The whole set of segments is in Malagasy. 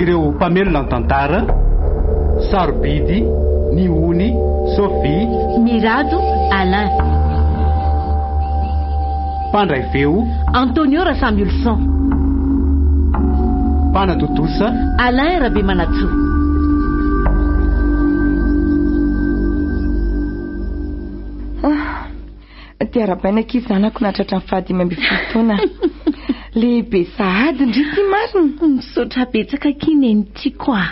Ireo mpamelona ny tantara, Sarobidy, Nihony, Sophie. Mirado, Alain. Mpandray feo, Antonio Rasamiholisaon. Mpanatontosa, Alain Rabemanantsoa. Dia arabaina akia zanako nahatratra ny faha dimy ambin'ny folo taona. Lehibe sahady ndry ity marina. Misaotra betsaka akia nenitiako a.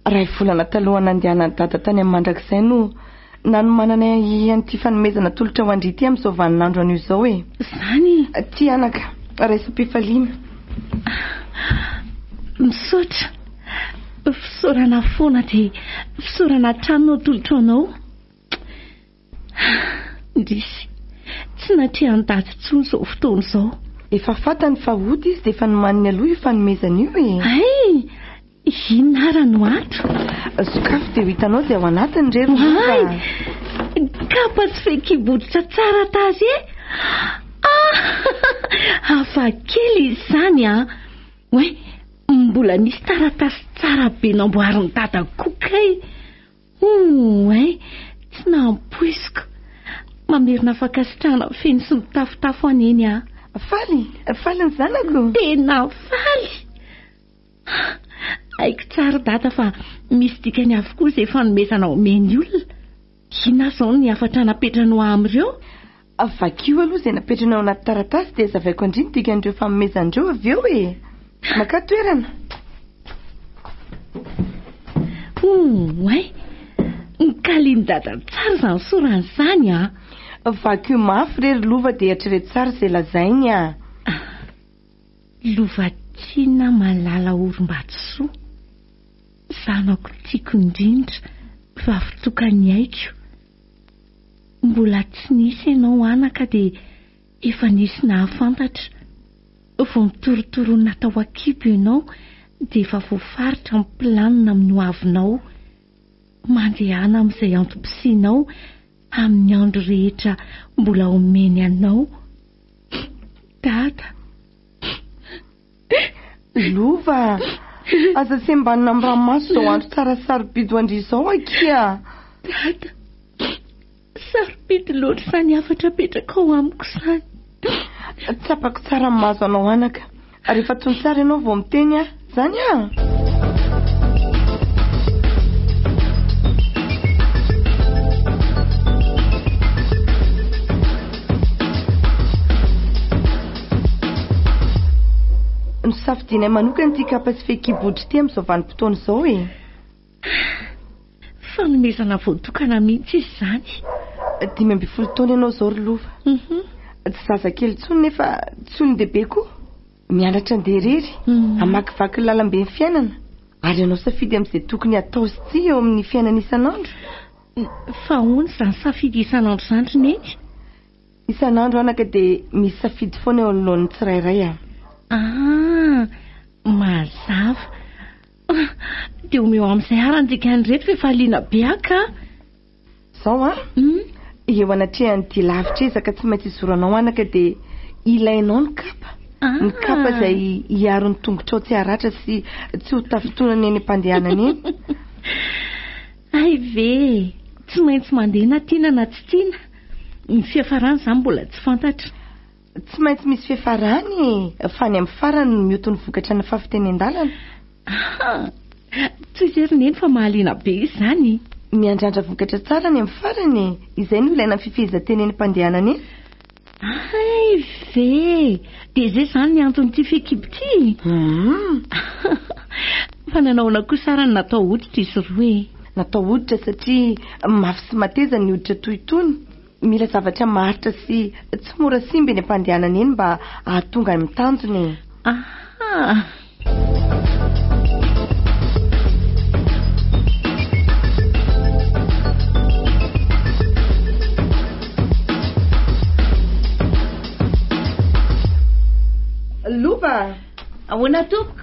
Iray volana talohan'ny nandehanan'i Dada tany amin'ny mandrakizay no nanomanana an'ity fanomezana tolotra ho an-dry ity amin'izao vaninandro anio izao e. Izany? Ty anaka, raisam-pifaliana. Misaotra. Fisaorana foana dia fisaorana hatrany no atolotro anao. Hah! Indrisy! Tsy natrehan ndaty tsony zao fotoana zao. Efa fatany fa ota izy dia efa nomaniny aloha io fanomezana io e! Hay! Inona ara no ato? Sokafy dia ho hitanao izay ao anatiny re ry mora! Hay! Kapa sy fehikibodotra tsara tarehy! Ah! Hafa kely izy izany an! Oay! Mbola misy taratasy tsara be namboarin'i dada koa kay! Ouin! Tsy nampoiziko! Mamerina fankasitrahana feno sy mitafotafo aho Neny a! Faly! Faly ny zanako! Tena faly! Haiko tsara Dada fa misy dikany avokoa izay fanomezana omeny olona. Inona izao ny hafatra napetrany ho ahy amin'ireo? Vakio aloha izay napetrany ao anaty taratasy dia zavaiko an-dry ny dikan'ireo fanomezany ireo avy eo e! Makà toerana! Ouay! Nokalian'i Dada tsara izany sorany izany a! Vakio mafy re ry lova dia eritrereto tsara izay lazainy a! Lovatiana Malala Orim-batosoa, zanako tiako indrindra, vavy tokany aiko. Mbola tsy nisy ianao anaka dia efa nisy nahafantatra. Vao mitorotoroana tao an-kibo ianao dia efa voafaritra ny planina amin'ny ho avinao. Mandehana amin'izay antom-pisianao amin'ny andro rehetra mbola omeny anao Dada. Lova, aza sembanina amin'ny ranomaso izao andro tsara sarobidy ho an-dry izao akia. Dada, sarobidy loatra izany hafatra apetrakao amiko izany. Tsapako tsara ny mahazo anao anaka. Rehefa tony tsara ianao vao miteny aho. Izany an! Nosafidianay manokana ity kapa sy fehikibo ohatry ity amin'izao vanim-potoana izao e. Fanomezana voatokana mihitsy izy izany. Dimy ambin'ny folo taona ianao izao ry Lova. Mhm. Tsy zazakely intsony nefa tsy olon-dehibe koa. Mianatra andeha irery, mhm. hamakivaky ny lalamben'ny fiainana ary hanao safidy amin'izay tokony hatao sy tsia eo amin'ny fiainana isan'andro. Fa ahoana izany safidy isan'andro izany ry Neny? Isan'andro anaka dia misy safidy foana eo anoloan'ny tsirairay a. Ah! Mazava. Dia omeo ahy amin'izay arany dikany ireto fa efa liana be aho ka. Izao an! Eo anatrehan'ny dia lavitra ezaka tsy maintsy izoranao anaka dia ilainao ny kapa. Ny kapa izay hiaro ny tongotrao tsy haratra sy tsy ho tafintonana eny am-pandehanana eny. Hay ve tsy maintsy mandeha na tiana na tsy tiana? Ny fiafarany izany mbola tsy fantatra. Tsy maintsy misy fiafarany e! Fa any amin'ny farany no mioty ny vokatra ny fahafitenen-dalana. Aha! Toy izay ry Neny fa mahaliana be izany! Miandrandra vokatra tsara any amin'ny farany e! Izay no ilaina amin'ny fifehezan-tenen'mpandehana anie. Hay ve! Dia izay izany ny anton'ity feekibo ity e! Fa nanao ahoana kosa ary no natao hoditra izy roa e? Natao hoditra satria mafy sy mateza ny hoditra toy itony. Mila zavatra maharitra sy tsy mora simba eny am-pandehanana eny mba hahatonga any amin'ny tanjona e! Aha! Loba! Ahoana tompoko?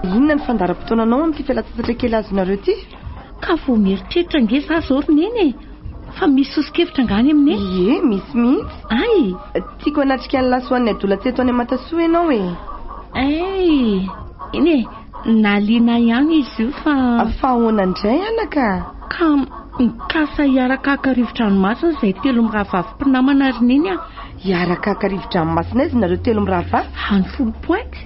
Inona ny fandaharam-potoananao amin'ity fialantsasatra kely azonareo ity? Ka vao mieritreritra ange za zao ry neny e! Fa misy soso-kevitra angaha any aminay? Ie, misy mihitsy. Ay! Tiako hanatrika ny lasoan'ny adolatsy eto any Amatasoa ianao e! Ay! Eny e, nahaliana ahy ihany izy io fa. Fa ahoana indray anaka? Ka mikasa hiaraka haka rivo-dranomasina izay telo mirahavavy mpinamana ry neny a! Hiaraka haka rivo-dranomasina aiza nareo telo mirahavavy? Any Foulpointe.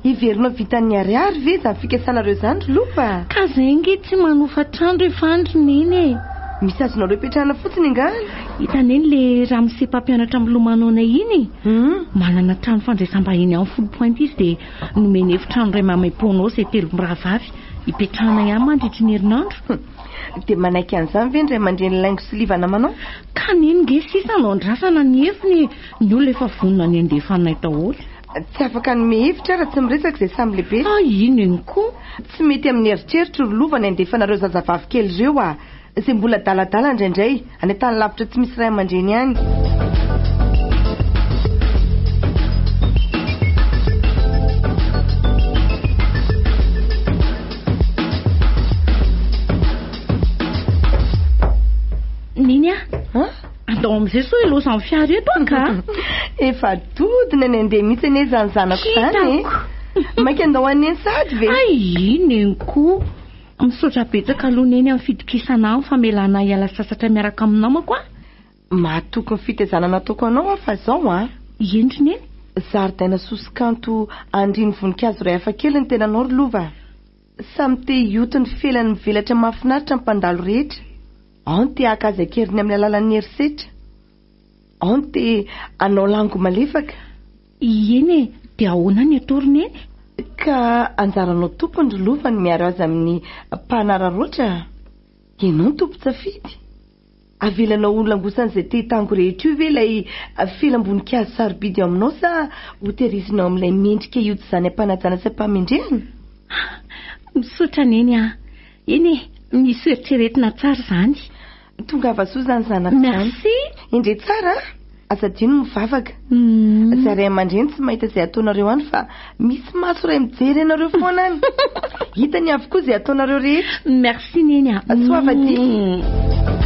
Hiverina ho vitan'ny ariary ve izany fikasanareo izany ry Lopa a? Ka zay ange tsy manofa trano ry Fandry neny e! Misy azonareo ipetrahana fotsiny angaha? Hita neny le ramose mpampianatra milomano anay iny e! Manana trano fandraisam-bahiny any Foulpointe izy dia nomeny efitrano iray maimaim-poana ao izay telo mirahavavy ipetrahanay any mandritry ny herinandro. Dia manaiky an'izany ve ny ray aman-dreny laingo sy liva namanao? Ka neny nge sisa no andrasana ny efiny e! Ny olona efa vonona ny handefa anay daholo. Tsy afaka hanome hevitra raha tsy miresaka izay samy lehibe. Ah ino ino koa? Tsy mety amin'ny eritreritra ry lova ny handefa anareo zazavavy kely ireo ah, izay mbola adaladala indraindray, any an-tany lavitra tsy misy ray aman-dreny any. Nini ah. An? Andao amin'izay sao hilaozan'ny fiara eto aho ka! Efa dodona ny handeha mihitsy anie izany zanako izany e! Hitako! Mainka andao haneno sahady ve? Aii, neniko! Misaotra betsaka aloha neny amin'ny fitokisana ahy, amin'ny famelanà hiala sasatra miaraka amin'ny namako a! Mahatoky ny fitaizana nataoko anao aho fa izao an! Eny ry neny! Zaridaina soso-kanto andrian'ny voninkazo iray hafakely ny tenanao ry lova a! Samy te hioty ny felany mivelatra mahafinaritra ny mpandalo rehetra. Ao ny te haka azy an-keriny amin'ny alalan'ny herisetra, ao ny te hanao lango malefaka. Ieny e, dia ahoana ny atao ry Neny? Ka anjaranao tompony ry Lova ny miaro azy amin'ny mpanararaotra a! Ianao no tompon-tsafidy. Avelanao ho langosan'izay te hitango rehetra io ve ilay felam-boninkazo sarobidy ao aminao sa hotairizina ao amin'ilay mendrika hiodizany am-panajana sy am-pahamendrehana? Misaotra Neny a! Eny e, misy hoeritreretina tsara izany. Tongava soa izany zanako izany. Merci. Indre tsara a! Aza adino ny mivavaka. Izay ray aman-dreny tsy mahita izay ataonareo any fa misy maso iray mijery anareo foana any. Hitany avokoa izay ataonareo rehetra. Merci Neny a. Soavadia.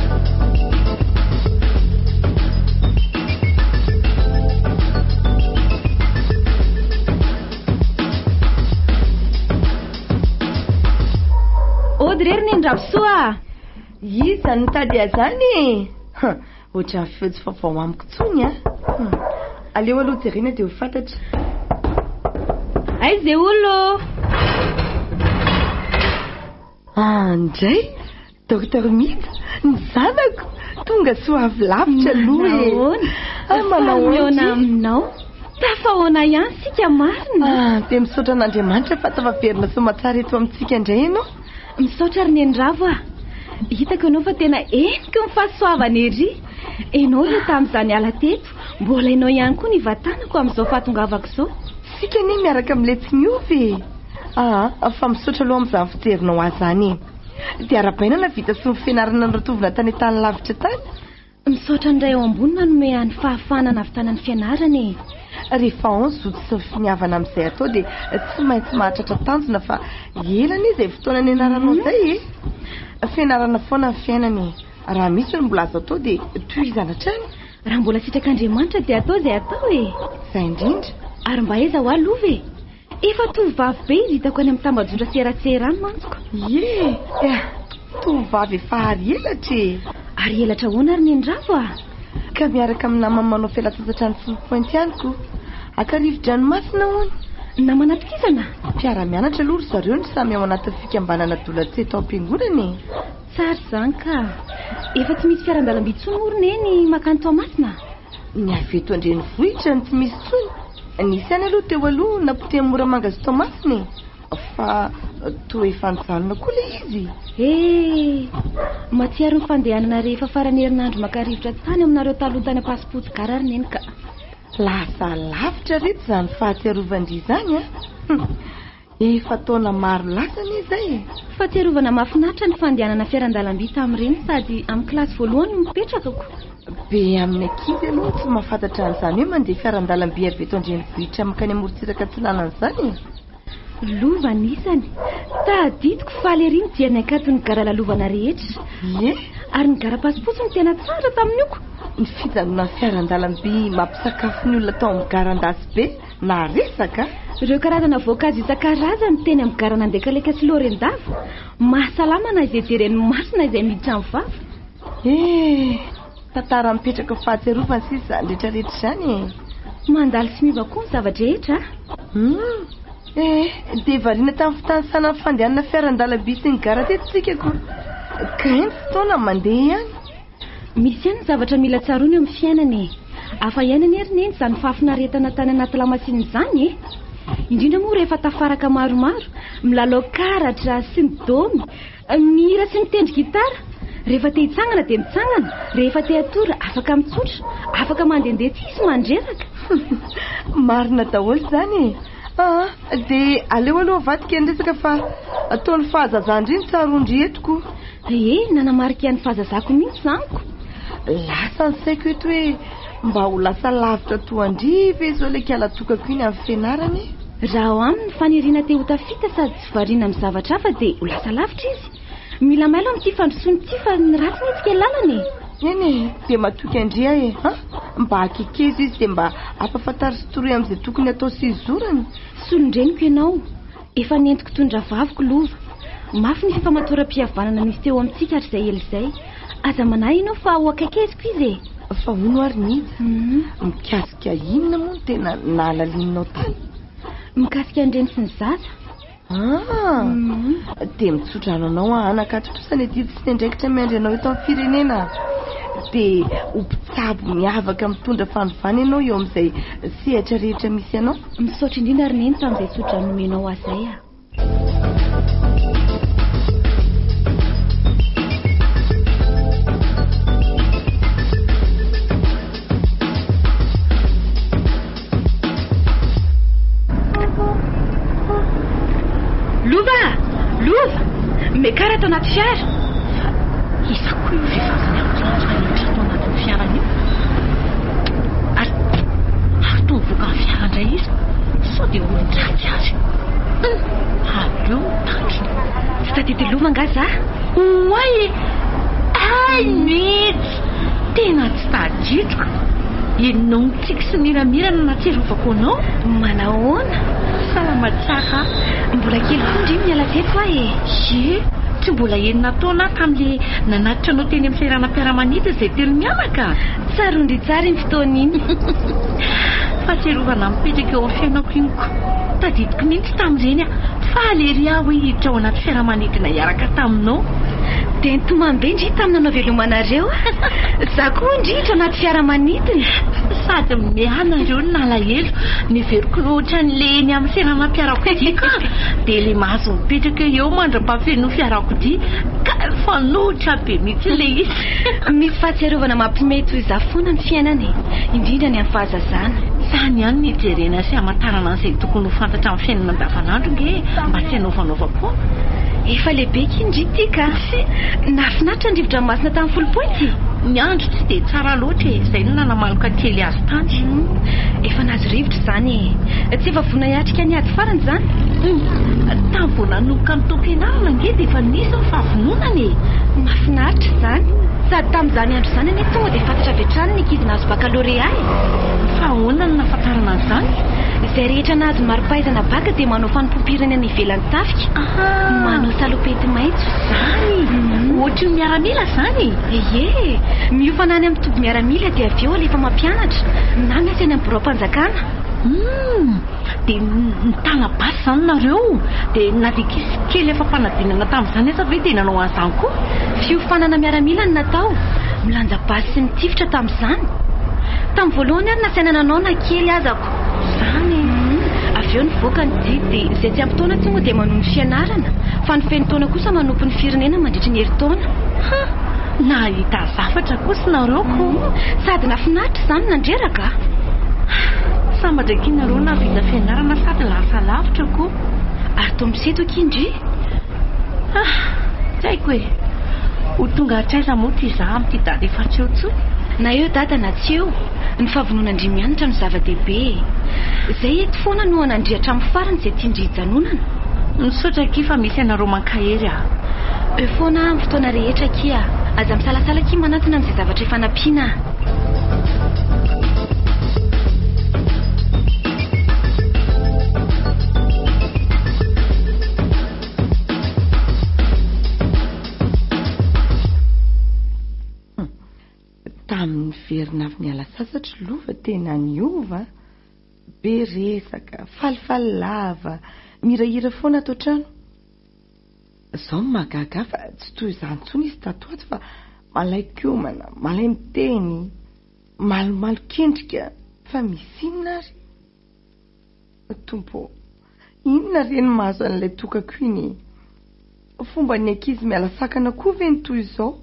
Ody re ry Nendrabisoa ah! Iza no mitady azany e? Ha, ohatran'ny feo tsy vaovao amiko intsony an! Hmm. Aleo aloha jerena dia ho fantatra. Aiza e olo ô? Ah, ndray! Docteur Mida, ny zanako, tonga soa avy lavitra aloha e. Nahoana? Ah, manao Fa mihaona aoka e. aminao. Tafahaona ihany isika marina. Ah, dia misaotra an'Andriamanitra fa tafaverina soa aman-tsara eto amintsika indray ianao. Misaotra ry neniravo ah. Hitako ianao fa tena heniky ny fahasoavana ery. Ianao ilay tamin'izaho niala teto, mbola ianao ihany koa ny vatanako amin'izao fahatongavako izao. Isika anie miaraka miletsy miova e. Ah, fa misaotra aloha amin'izany fijerinao ahy izany e. Dia ara-bainana vita sy nofenarana ny ratovona tany an-tany lavitra tany. Misaotra an'Ray ao Ambony nanome ahy ny fahafahana nahavitana ny fianarana e! Rehefa ao ny zoto sy ny finiavana amin'izay atao dia tsy maintsy mahatratra tanjona fa ela anie izay fotoana nianaranao izay e! Fianarana foana ny fiainana e! Raha misy ny mbola azo atao dia tohizana hatrany. Raha mbola sitrak'Andriamanitra dia atao izay atao e! Izay indrindra. Ary mba aiza ho ahy lova e! Efa tovovavy be izy hitako any amin'ny tambajotra sy eran-tseherany mantsiko. Ie, eh, tovovavy efa ary elatra e! Ary elatra ahoana ary ny an'i Ravo a? Ka miaraka amin'ny namany manao fialantsasatra any Four Point ihany koa. Haka rivo-dranomasina hono. Namana tohizana? Mpiara-mianatra aloha ry zareo no samy ao anatin'ny fikambanana Adolatsy eto am-piangonana e! Tsara izany ka! Efa tsy misy fiaran-dalamby intsony moa ry Neny mankany Toamasina? Ny avy eto an-drenivohitra no tsy misy intsony. Nisy ihany aloha teo aloha napotehan'i Moramanga sy Toamasina e, fa toa efa nijanona koa ilay izy. He! Mahatsiaro ny fandehanana rehefa faran'ny herinandro maka rivotra tany aminareo taloha tany Ampasimpotsigar ry Neny ka. Lasa lavitra ry reto izany fahatsiarovan-dry izany an! Efa taona maro lasa anie izay e! Fahatsiarovana mahafinaritra ny fandehanana fiaran-dalamby tamin'ireny sady amin'ny kilasy voalohany no nipetrakako. Be amin'ny ankizy aloha no tsy mahafantatra an'izany hoe mandeha fiaran-dalamby avy eto an-drenivohitra mankany amorontsiraka atsinanana izany e! Lova anisany. Tadidiko faly ery nijery ny hakanton'ny gara lalovana rehetra. Ie! Ary ny gara pasipotsy no tena tsara tamin'ny oko. Ny fijanonan'ny fiaran-dalamby mampisakafo ny olona tao amin'ny gara an-dasy be. Maharesaka a! Ireo karazana voankazo isan-karazany teny amin'ny garana Andekaleka sy Laorendava. Mahasalama na izay jeren'ny maso na izay miditra amin'ny vava. Eh! Tantara mipetraka ho fahatsiarovana sisa izany rehetra rehetra izany e! Mandalo sy miova koa ny zava-drehetra a! Hum! Eh! Dia variana tamin'ny fitanisana ny fandehanana fiaran-dalamby sy ny gara teto isika koa. Ka eny fotoana mandeha ihany. Misy ihany ny zavatra mila tsaroana eo amin'ny fiainana e! Hafa ihany anie ry Neny izany fahafinaretana tany anaty lamasinina izany e! Indrindra moa rehefa tafaraka maromaro, milalao karatra sy midomy, mihira sy mitendry gitara. Rehefa te hitsangana dia mitsangana, rehefa te hatory afaka mitsotra, afaka mandehandeha tsy hisy mandreraka. Marina daholo izany e! Aa, dia aleo aloha avadika ny resaka fa ataon'ny fahazazan-dry ny tsaroan-dry eto koa. Ee, nanamarika ny fahazazako mihitsy izany ko. Lasa ny saiko eto hoe mba ho lasa lavitra toa an-dry ve izao ilay kala tokako iny amin'ny fianarana e? Raha ao aminy ny faniriana te ho tafita sady tsy variana amin'ny zavatra hafa dia ho lasa lavitra izy. Mila mailo amin'ity fandrosoana ity fa ny ratsy ny hetsika lalana e! Eny e, dia matoky an-dry aho e! An! Mba akekeza izy dia mba ampahafantaritsy toroy amin'izay tokony hatao sy hizorany. Solon-dreniko ianao. Efa nentiko toy ny rahavaviko lova. Mafy ny fifamatoram-pihavanana nisy teo amintsika hatrizay ela izay. Aza manahy ianao fa ho akaikiziko izy e! Fa hono ary Nina, mikasika inona moa no tena nahalalininao tany? Mikasika ny reny sy ny zaza. Ah! Dia mitsodrano anao aho anaka ato kosa ny adidy sy ny andraikitra miandry anao eto amin'ny firenena. Dia ho mpitsabo miavaka mitondra fanovana ianao eo amin'izay sehatra rehetra misy anao. Misaotra indrindra ry Neny tamin'izay tsodrano nomenao ahy izay a. Lova! Lova! Mekara ato anaty fiara! Iza koa io vehivavy miankinatra rehetra ato anatin'ny fiara io? Ary toa vokan'ny fiara indray izy sao dia olon-dratsy ary. Hum, aleo ny tandrony. Tsy tadidy-lova angaha za? Oay e! Hay mihitsy! Tena tsy tadidiko. Ianao mitsiky sy miramira no nahatsiarovako anao. Manahoana? Salama tsara. Mbola kely koa ndry miala teto aho e. Ye, tsy mbola enina taona aho tamin'ilay nanatitra anao teny amin'ny seranam-piaramanidina izay telo mianaka. Tsaroan-dry tsara iny fotoana iny. Fahatsiarovana mipetraka eo amin'ny fiainako iny ko. Tadidiko mihitsy tamin'ireny aho. Faly ery aho hoe hiditra ao anaty fiaramanidina hiaraka taminao. Dia nitomany be ndry tamin'ny nanavelomanareo aho. Izaho koa hono ndry hiditra anaty fiaramanidina. Sady mianareo no nalahelo. Niveriko ohatran'ilay eny amin'ny seranam-piarakodiako aho. Dia ilay mahazo mipetraka eo mandra-pahafenoa fiarakodia. Kay mifanohitra be mihitsy ilay izy. Misy fahatsiarovana mampiomehy toy izaho foana ny fiainana e, indrindra ny an'ny fahazazana. Sa any ihany no hijerena sy hamantarana an'izay tokony ho fantatra amin'ny fiainana andavanandro nge mba tsy hanaovanaova koa? Efa lehibe akia ndry ity ka! Tsia, nahafinaritra ny rivo-dranomasina tany Folopointy. Ny andro tsy dia tsara loatra e, izay no nanamaloka kely azy tany. Efa nahazo rivotra izany e. Tsy efa vonona hiatrika. Ka ny ady farany izany? Humm! Tamin'ny vao nanomboka nitaom-pianarana ange dia efa nisy ny fahavononana e! Mahafinaritra izany! Sady tamin'izany andro izany anie tonga dia fantatra avy hatrany ny ankizy nahazo bakalorea e! Fa ahoana no nahafantarana an'izany? Izay rehetra nahazo mari-pahaizana baka dia manao fanompoam-pirenena ivelan'ny tafika. Aha! Manao salopety maitso izany! Ohatry ny miaramila izany e! Ie! Miofana any amin'ny toby miaramila dia avy eo alefa mampianatra, na miasa eny amin'ny biraom-panjakana. Humm! Dia nitana basy izany nareo? Dia na dia kisy kely afa-panadinana tamin'izany aza ve dia nanao an'izany koa? Fiofanana miaramila no natao, milanja basy sy nitifitra tamin'izany. Tamin'ny voalohany ary nasaina nanao na kely aza aho. Izany e! Avy eo nivoaka ny didy dia izay tsy ampy taona tsy moa dia manohy ny fianarana fa ny feno taona kosa manompo ny firenena mandritry ny herintaona. Ha! Nahita zavatra kosa ianareo ko. Sady nafinaritra izany nandreraka a! Sambatra akia nareo nahavita fianarana sady lasa lavitra ko. Ary toa misento akia ndry. Ah! Tsy haiko e! Ho tonga hatraiza moa ity za amin'ity dada efa tsy eo intsony? Na eo dada na tsy eo. Ny fahavonon'Andriamianitra no zava-dehibe e! Zay eto foana no hanandria hatramin'ny farany izay tian-dry hijanonana. Misaotra akia fa misy anareo mankahery a! Eo foana aho amin'ny fotoana rehetra akia a! Aza misalasala akia manantona amin'izay zavatra efa nampiana a! Tamin'ny niverina avy niala sasatra lova tena niova an! Be resaka, falifaly lava, mihirahira foana ato an-trano. Zao no mahagaga ahy fa tsy toy izany intsony izy tato ato fa malaikomana, malaimiteny, malomalokendrika, fa misy inona ary? Ô Tompo ô! Inona re no mahazo an'ilay tokako iny e! Fomban'ny ankizy miala sakana koa ve ny toy izao?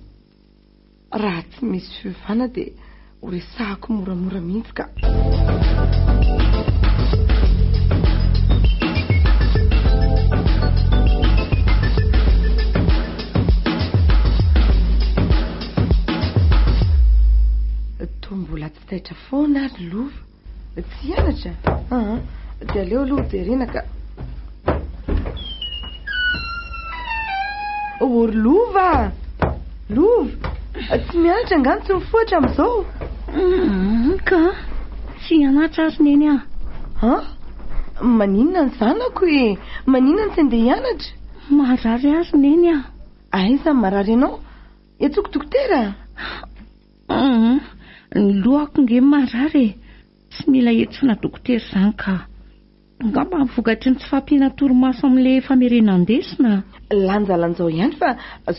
Raha tsy misy fiovana dia ho resahako moramora mihitsy ka! Toa mbola tsy taitra foana ary lova. Tsy hianatra? Aa, dia aleo aloha ho terena ka. Oh, ry Lova! Lova! Tsy mianatra angano tsy mifohatra amin'izao? Mm, ka, tsy hianatra ary neny aho. Ha? Maninona ny zanako e? Maninona no tsy andeha hianatra? Marary ary neny aho. Aiza ny marary anao? Etsoko dokotera? Humm ny lohako nge marary e! Tsy mila hentsoana dokotera izany ka! Angamba vokatry ny tsy fahampiana torimaso amin'ilay famerena andesina a! Lanjalanjao ihany fa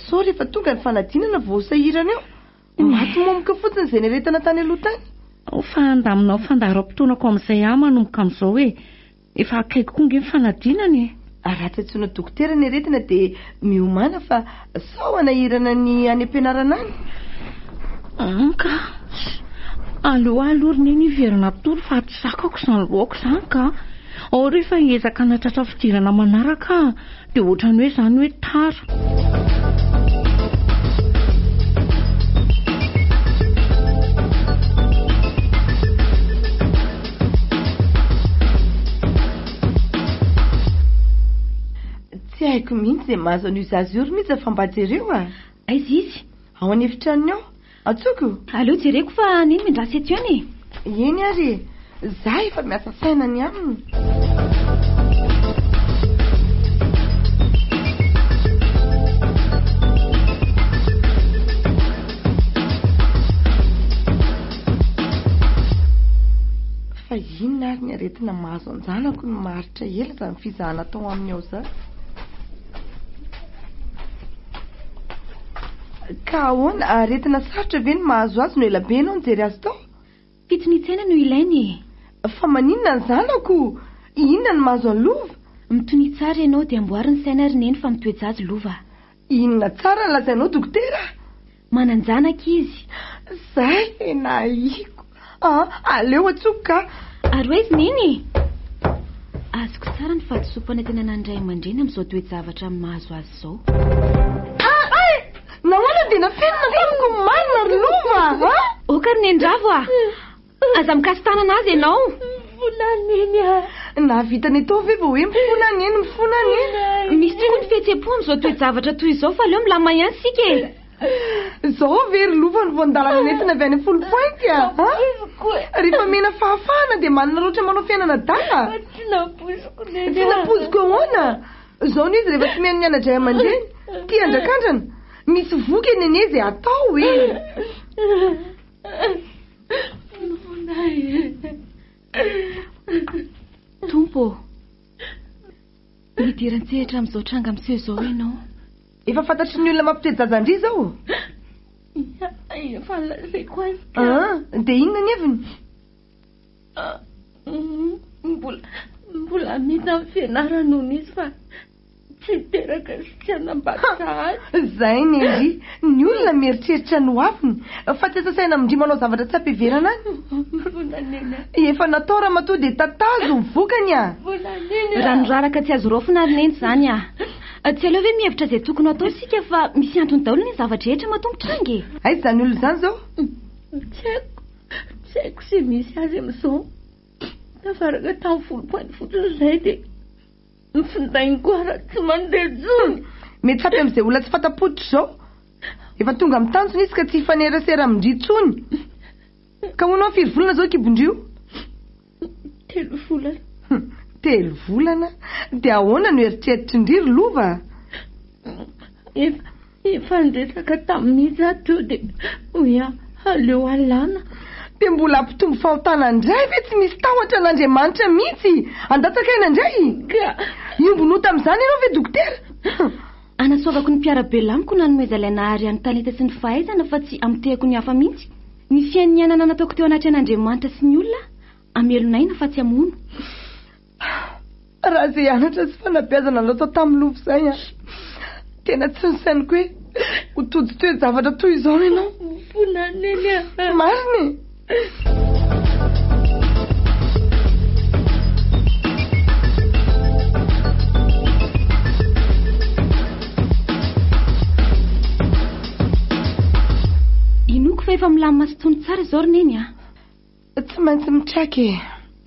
sao rehefa tonga ny fanadinana vao ho sahirana eo! Maty momoka fotsiny izay niaretana tany aloha tany! Ao fa andaminao fandaharam-potoanako amin'izay aho manomboka amin'izao e! Efa akaiky koa nge ny fanadinana e! Raha tsy antsoina dokotera ny aretina dia miomàna fa sao hanahirana ny any am-pianarana any? An ka! Aleo ahy aloha ry neny hiverina atory fa tsy zakako izany loako izany ka! Ao re fa hiezaka hanatratra fidirana manaraka aho. Dia ohatrany hoe izany hoe tara. Tsy haiko mihitsy izay mahazo an'io zaza io ry Mija fa mba jereo a! Aiza izy? Ao an'efitranony ao. Antsoiko? Aleo jereko fa nino miandrasa eto ihany e! Eny ary e! Za efa miasa saina ny aminy. Fa inona ary ny aretina mahazo an-janako no maharitra ela izany fizahana atao aminy ao izany? Ka ahoana? Aretina sarotra ve ny mahazo azy no elabe ianao nijery azy tao? Pitsy mihitsena no ilainy e! Fa maninona ny zanako? Inona no mahazo an'i Lova? Mitonia tsara ianao dia amboary ny saina ry Neny fa mitoe-jajy Lova. Inona tsara no lazainao dokotera? Manan-janaka izy. Zay tena ahiako. Ah, aleo atsoiko ka! Ary hoe izy nini e! Azoko tsara ny fahadisoam-panantenana ny ray aman-dreny amin'izao toe-javatra mahazo azy izao. Ah! Ay! Nahoana dia nafenina tamiko ny marina ry Lova a! Ok ry Neniravo a! Aza mikasi-tanana azy ianao! Mifona neny a! Nahavita ny atao ve vao hoe mifona neny, mifona neny? Misy tokoa ny fihetsem-po amin'izao toe-javatra toy izao fa aleo milamina ihany isika e! Zao ve ry lova no voan-dalana nentina avy any Full Point a? Nampoiziko e. Rehefa mena fahafahana dia manana loatra manao fiainana adala? Tsy nampoiziko neny. Tsy nampoiziko ahoana? Zao no izy rehefa tsy mihaino ny anadray aman-dreny. Tia andrakandrana. Misy voky e nene izay atao e. Tompo ô, midira an-tsehatra amin'izao tranga miseho izao ianao. Efa fantatry ny olona mampitoe jaja an-dry izao? Ia, efa lazaiko azy ka. Ah, dia inona ny heviny? Ah, mbola, mbola hamita amin'ny fianarany hono izy fa tsy hiteraka sy tsy hanambady sahady. Izay ny an-dry. Ny olona mieritreritra ny hoaviny, fa tsy asa saina amin-dry manao zavatra tsy am-piheverana any. Volanena. Efa natao ramatoa dia tatazo ny vokany ah! Volanena. Raha niraraka tsy azo raofina ry Neny izany ah! Tsy aleo ve mihevitra izay tokony hatao isika fa misy antony daholo ny zavatra rehetra matoa mitranga e. Aiza izany olona izany izao? Tsy haiko, tsy haiko izay misy azy amin'izao. Tafaraka tamin'ny folo pointy fotsiny izay dia ny findainy koa ara tsy mandeha intsony. Mety hafy amin'izay olona tsy fanta-poditra izao. Efa tonga amin'ny tanjona izy ka tsy hifanerasera amin-dry intsony. Ka hono an, firy volana izao kibon-dry io? Telo volana. Hum, telo volana? Dia ahoana no eritreritr'indry ry Lova? Efa, efa niresaka tamin'izy za teo dia hoy aho aleo alana. Dia mbola hampitombo fahotana indray ve tsy misy tahotra an'Andriamanitra mihitsy? Handatsaka aina indray? Ka! Hiombon'ota amin'izany ianao ve dokotera? Anasoavako ny mpiara-belamiko nanomezalay nahary an'i Talita sy ny fahaizana fa tsy hamotehako ny hafa mihitsy. Ny fiainianana nataoko teo anatrehan' Andriamanitra sy ny olona hamelo n'aina fa tsy hamono. Raha izay anatra sy fanabeazana nataoko tamin'ny lova izay an! Tena tsy nosainiko hoe ho tojo toe-javatra toy izao ianao. Mofona neny an! Marina e! Inoako fa efa milamina sy tony tsara izao ry Neny a. Tsy maintsy mitraka e.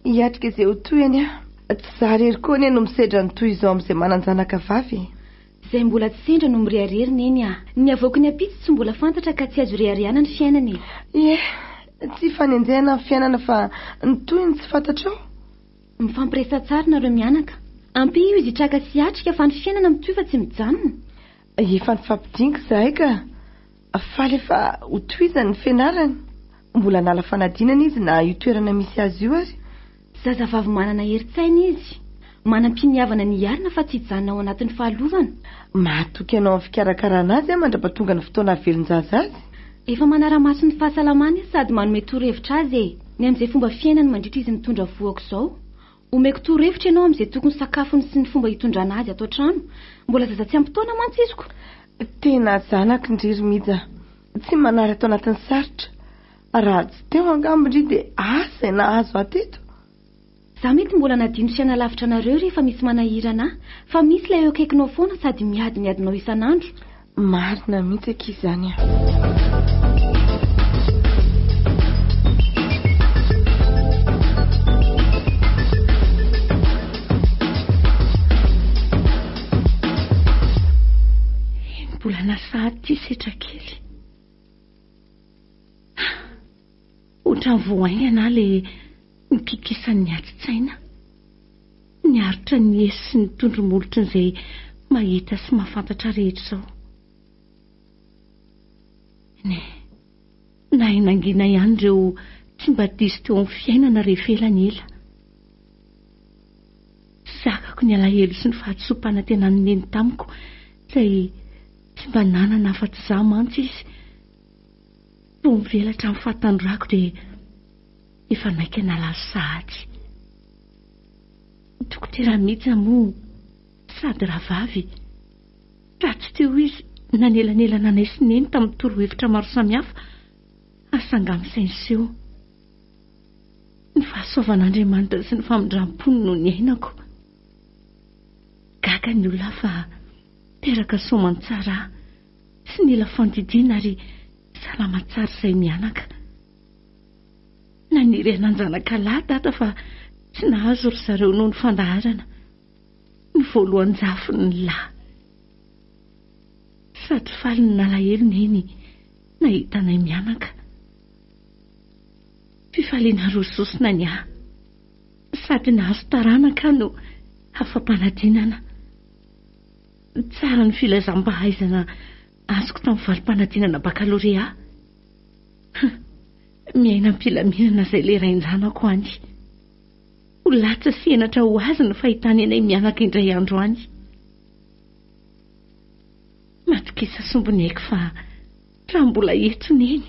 Hiatrika izay ho toy anie aho. Tsy za irery koa anie no misedra ny toy izao amin'izay manan-janaka vavy e. Izay mbola tsy sendra no mirehareha ry Neny a. Ny havoaky ny ampitso tsy mbola fantatra ka tsy azo ireharehana ny fiainana e. Ie, tsy ifanenjehana ny fiainana fa ny toy ny tsy fantatrao. Mifampiresaha tsara nareo mianaka. Ampio izy hitraka sy hiatrika fa ny fiainana mitohy fa tsy mijanona. Efa nifampidingo izahay ka faly efa ho tohizany ny fianarany. Mbola hanala fanadinana izy na io toerana misy azy io ary. Zazavavy manana herin-tsaina izy. Manam-piniavana ny hiarina fa tsy hijanona ao anatin'ny fahalovana. Mahatoky anao amin'ny fikarakarana azy aho mandrapa tonga ny fotoana hahavelon-jaza azy. Efa manara-maso ny fahasalamany sady manome torohevitra azy e! Ny amin'izay fomba fiainany mandritra izy mitondra voa aok'izao. Omeko torohevitra ianao amin'izay tokony sakafony sy ny fomba hitondrana azy ato an-trano. Mbola zaza tsy ampy taona mantsy izy ko. Tena zanako ndry ry Mija, tsy manary ato anatin'ny sarotra. Raha tsy teo angamba ndry dia asa izay nahazo ahy teto. Za mety mbola nadino sy hanalavitra anareo rehefa misy manahirana ahy, fa misy ilay eo akaikinao foana sady miadimiadinao isan'andro. Marina mihitsy akia izany a. Mbola lasa aty setra kely. Ohatran'ny vao haingana aho ilay nitotosan'ny atitsaina. Niaritra ny hehy sy ny tondro-molotry ny izay mahita sy mahafantatra ahy rehetra izao. Ny nahay nangina ihany ireo tsy mba diso teo amin'ny fiainana rehefa ela ny ela. Zakako ny alahelo sy ny fahadisoam-panantenan'ny neny tamiko izay tsy mba nanana afa-tsy izaho mantsy izy. Toa mivelatra amin'ny fahatanorako dia efa naika nalazo sahady. Ny dokotera Mija moa sady rahavavy ka tsy teo izy nanelanelana anay sy Neny tamin'ny torohevitra maro samihafa ary sangam sainy seho. Ny fahasoavan'Andriamanitra sy ny famindram-pony no niainako. Gaga ny olona fa teraka soamantsara Tsy nila fandidiana ary salama tsara izahay mianaka. Naniry hanan-janakalahy Dada fa tsy nahazo ry zareo noho ny fandaharana. Ny voalohan-jafiny ny lahy. Sady faly no nalahelo Neny nahita anay mianaka. Fifaliana roa sosona ny ahy. Sady nahazo taranaka aho no afa-panadinana. Tsara ny filazam-pahaizana azoko tamin'ny valim-panadinana bakalorea. Huh! Miaina am-pilaminana izay ilay rain-janako any. Ho latsa sy henatra ho azy ny fahitany anay mianaka indray andro any. Matokisa sombiny aiko fa. Raha mbola eto Neny,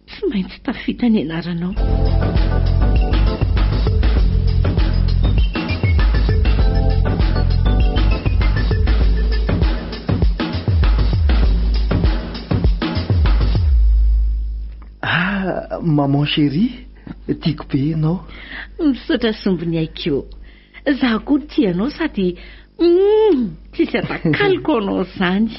tsy maintsy tafita ny anaranao. Ah, maman chérie, tiako be ianao. Misaotra sombiniaiko. Za koa tia anao sady humm tsisy atakaloko anao zany.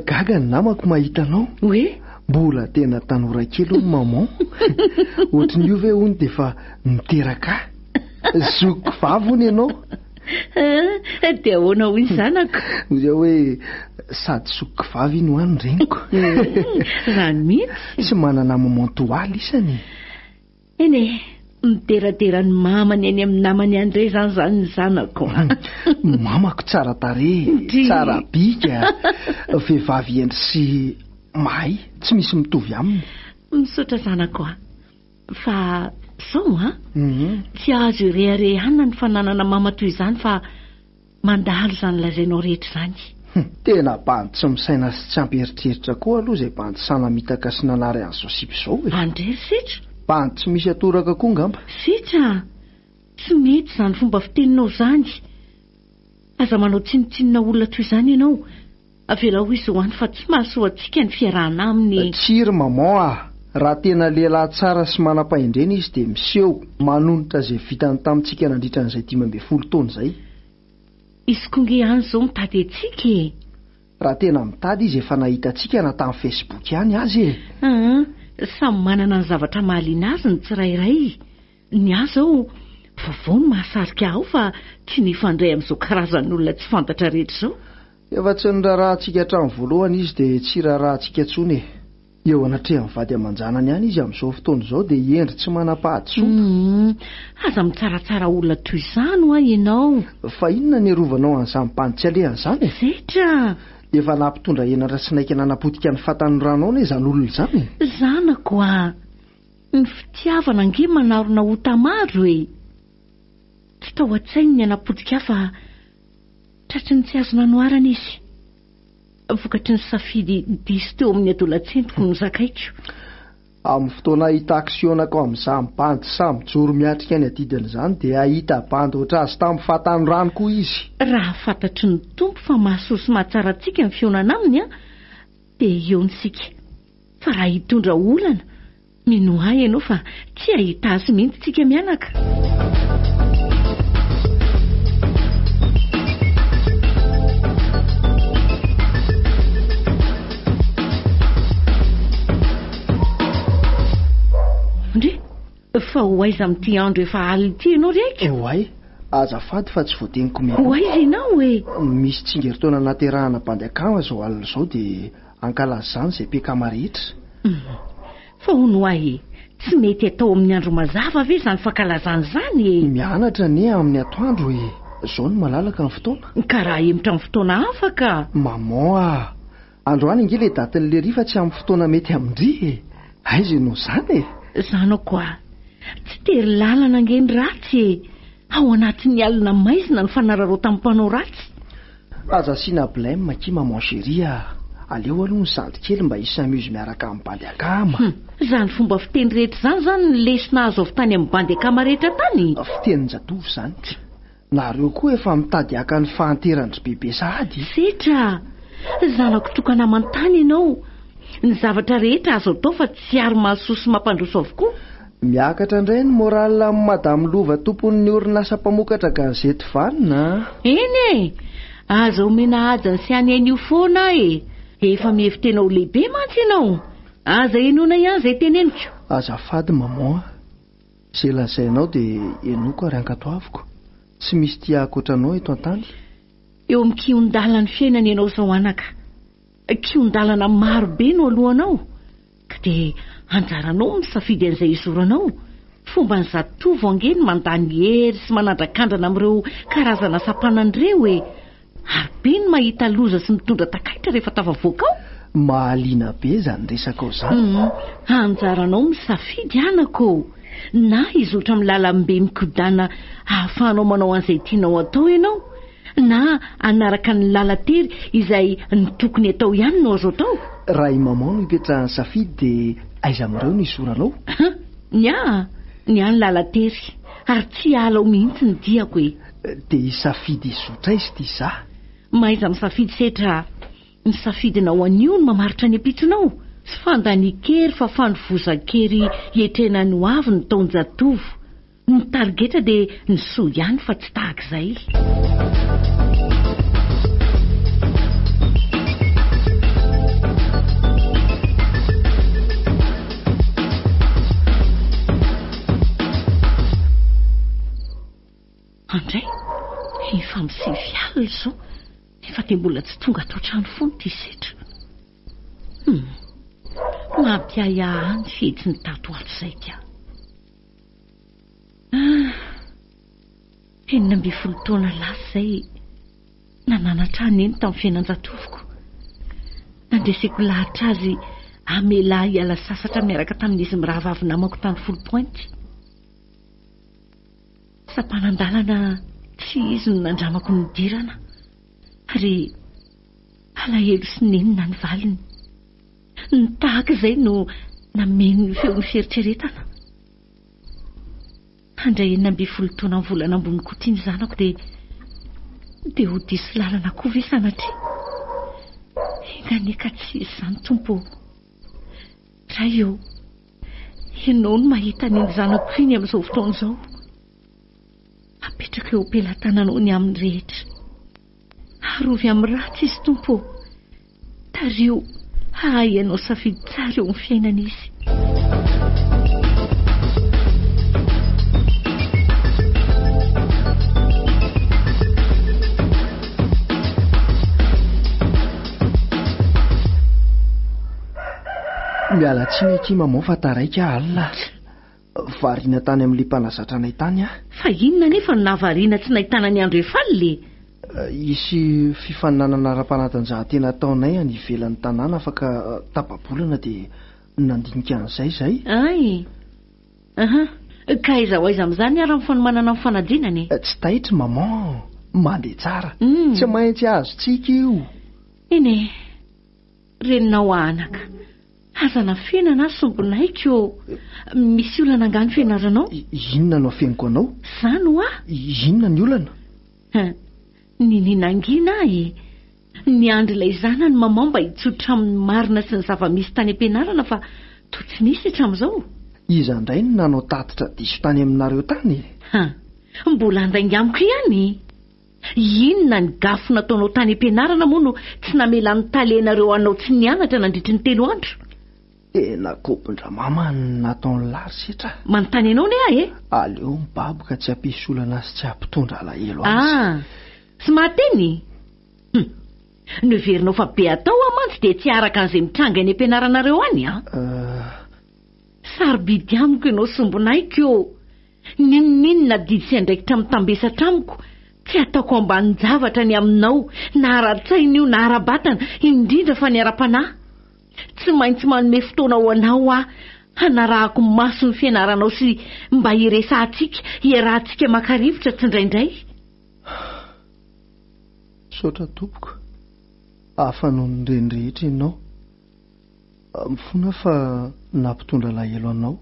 Gaga ny namako mahita anao. Hoe? Mbola tena tanora kely hono maman. Ohatry ny io ve hono dia efa niteraka ahy. Zokiko vavy hono ianao. Ah, dia ahoana hoy ny zanako? Hoy aho hoe sady zokiko vavy iny hoany reniko. Zany mihitsy. Tsy manana maman toa ahy lisany e. Eny e, mideradera ny mamany eny amin'ny namany any indray izany izany ny zanako a! Ny mamako tsara tarehy, tsara bika, vehivavy hendry sy mahay, tsy misy mitovy aminy. Misaotra zanako a! Fa sao an! Tsy azo ireharehana ny fananana mama toy izany fa. Mandalo izany lazainao rehetra izany. Humm! Tena bandy tsy misaina sy tsy ampy eritreritra koa aloha izay bandy sahy namitaka sy nanary an'izao sipa izao e! Any re ry setra! Bandy tsy misy atoraka koa ngamba! Setra a! Tsy mety izany fomba fiteninao izany! Aza manao tsinontsinona olona toy izany ianao! Avelao izy ho any fa tsy mahasoa antsika ny fiarahana aminy. Tsia ry maman ah! Raha tena lehilahy tsara sy manam-pahendrena izy dia miseho manonitra izay vitany tamintsika nandritra an'izay dimy ambin'ny folo taona izay. Izy koa nge any izao mitady antsika e! Raha tena mitady izy efa nahita antsika na tamin'ny facebook ihany aza e! Aa! Samy manana ny zavatra mahaliana azy ny tsirairay. Ny ahy izao, vaovao no mahasarika ahy ao fa tsy nifandray amin'izao karazan'olona tsy fantatra rehetra izao. Efa tsy niraharahantsika hatramin'ny voalohany izy dia tsy iraharahantsika intsony e! Eo anatrehan'ny vady aman-janany ihany izy amin'izao fotoana izao dia hendry tsy manam-pahadisoana. Humm! Aza mitsaratsara olona toy izany hoa ianao! Fa inona no hiarovanao an'izany bandy tsy alehany izany e! Zetra! Efa nampitondra henatra sy naika nanapotika ny fatan'ny ranao anie izany olona izany e! Zanako a! Ny fitiavana ange manarona ota maro e! Tsy tao an-tsainy ny hanapotika ahy fa tratry ny tsy azo nanoharana izy. Vokatry ny safidy diso teo amin'ny adolatsentiko nozakaiko. Amin'ny fotoana hahita action nakao amin'izany bandy sahy mijoro miatrika ny adidiny izany dia hahita bandy ohatr'azy tamin'ny fahatanorany koa izy. Raha fantatry ny Tompo fa mahasoa sy mahatsara antsika ny fihaonana Aminy dia eo ny sika. Fa raha hitondra olana, minoa ahy ianao fa tsy hahita azy mihitsy isika mianaka. Ndry! Fa ho aiza amin'ity andro efa alina ity ianao ry Aiko? Oay, azafady fa tsy voadiniko mialoha. Ho aiza ianao e? Misy tsingerintaona nahaterahana bandy akama izao alina izao dia Ankalazany izay pkma rehetra. Fa hono ho ahy e, tsy mety atao amin'ny andro mazava ve izany fankalazana izany e? Mianatra anie amin'ny atoandro e! Izao no malalaka ny fotoana. Ka raha ahemotra amin'ny fotoana hafa ka! Maman a! Androany ange ilay datin'i Lery fa tsy amin'ny fotoana mety amin-dry e! Aiza ianao izany e! Zanako hoa! Tsy tery lalana ange ny ratsy e! Ao anatin'ny alina maizina ny fanararaotan'ny mpanao ratsy. Aza asiana blem akia maman chérie a! Aleo aloha ny zandry kely mba hi s'amuse miaraka amin'ny bandy akama! Hum! Izany fomba fiteny rehetra izany izany no lesona azo avy tany amin'ny bandy akama rehetra tany? Fitenin-jatovo izany ka! Nareo koa efa mitady haka ny fahanteran-dry Bebe sahady e! Setra! Zanako tokana aman-tany ianao! Ny zavatra rehetra azo atao fa tsy ary mahasoa sy mampandroso avokoa! Miakatra indray ny morale amin'i Madame Lova tompon'ny orinasa mpamokatra gazety vanona a! Eny e! Aza omena haja ny siany anio foana aho e! Efa mihevi-tena ho lehibe mantsy ianao! Aza henoina ihany izay teneniko! Azafady maman a! Izay lazainao dia henoiko ary ankatoaviko! Tsy misy tia akoatra anao eto an-tany! Eo amin'ny kihon-dalan'ny fiainana ianao izao anaka! Kihon-dalana maro be no alohanao, ka dia anjaranao ny misafidy an'izay hizoranao. Fomban'ny zatovo ange ny mandany hery sy manandrakandrana amin'ireo karazana sampanana ireo e! Ary be ny mahita loza sy mitondra takaitra rehefa tafavoaka ao. Mahaliana be izany resakao izany. Anjaranao ny misafidy anako ô! Na hizotra amin'ny lalambe mikodàna ahafahanao manao an'izay tianao atao ianao, Na hanaraka ny lalan-tery izay ny tokony atao ihany no azo atao? Raha i Maman no ipetrahan'ny safidy dia aiza amin'ireo no hisoranao? Hum! Ny ahy? Ny ahy ny lalan-tery. Ary tsy hiala ao mihitsy ny diako e! Dia hisafidy hizotra aiza ity izaho? Mahaiza misafidy setra a! Ny safidinao anio no mamaritra ny ampitsonao. Tsy fandanian-kery fa fandovozan-kery hiatrehana ny hoavy ny taon-jatovo. Ny tarigetra dia ny soa ihany fa tsy tahaka izay. Andray, efa amin'ny sivy alina izao nefa dia mbola tsy tonga ato an-trano foana ity setra. Hum, mampiahiahy ahy ny fihetsiny tato ho ato izay ka. Ah, enina ambin'ny folo taona lasa izay nananatra ahy neny tamin'ny fiainan-jatovoko. Nandreseko lahatra azy hamela ahy hiala sasatra miaraka tamin'izy mirahavavy namako tany Foulh Pointe. Sampanan-dalana tsy izy no nandramako ny nidirana, ary alahelo sy nenina ny valiny. Ny tahaka izay no nameno ny feon'ny fieritreretana. Handray enina ambin'ny folo taona amin'ny volana ambony koa ity ny zanako dia dia ho diso lalana koa ve sanatria? Enganie ka tsy hisy izany Tompo ô! Ray ô! Ianao no mahita an'iny zanako iny amin'izao fotoana izao. Apetrako eo am-pelatananao ny amin'ny rehetra. Arovy amin'ny ratsy izy, Tompo ô! Tariho hahay hanao safidy tsara eo amin'ny fiainana izy. Miala tsiny akia maman fa taraiky aho alina. Variana tany amin'ilay mpanazatra anay tany aho. Fa inona anefa no nahavariana tsy nahitana an'i André Fally e? Hisy fifaninanana ara-panatanjahantena ataonay any ivelan'ny tanàna afaka tapa-bolana dia nandinika an'izay izahay. Hay! Ahaa! Ka aiza ho aiza amin'izany ary ny fanomanana ny fanadinana e? Tsy taitry maman! Mandeha tsara. Tsy maintsy azo tsiky io! Eny e! Reninao aho anaka. Aza anafenana aho sombin'aiko ô. Misy olana angaha ny fianaranao? Inona no afeniko anao? Izany hoa? Inona ny olana? Ny ninangina ahy e. Niandry ilay zanany maman mba hitsotra amin'ny marina sy ny zava-misy tany am-pianarana fa toa tsy nisy hatramin'izao. Iza indray no nanao tatitra diso tany aminareo tany e? Mbola handainga amiko ihany? Inona ny gafy nataonao tany am-pianarana moa no tsy namela ny Tale nareo anao tsy nianatra nandritry ny telo andro? Tena kobon-dramama ny nataon'i Lars hetra. Manontany anao ne aho e! Aleo mibaboka tsy hampisy olana sy tsy hampitondra alahelo azy. Ah! Tsy mahateny? Hum! No heverinao fa be atao hoa mantsy dia tsy araka an'izay mitranga eny am-pianaranareo any an! Euh. Sarobidy amiko ianao sombinahiko ô! N'inon'inona didy sy andraikitra mitambesatra amiko, tsy ataoko ambanin-javatra ny aminao, na ara-tsaina io na ara-batana, indrindra fa ny ara-panahy. Tsy maintsy manome fotoana ho anao aho, hanarahako maso ny fianaranao sy mba hiresahantsika, hiarahantsika maka rivotra tsindraindray. Misaotra tompoko, hafa noho ny ireny rehetra ianao. Mifona aho fa nampitondra alahelo anao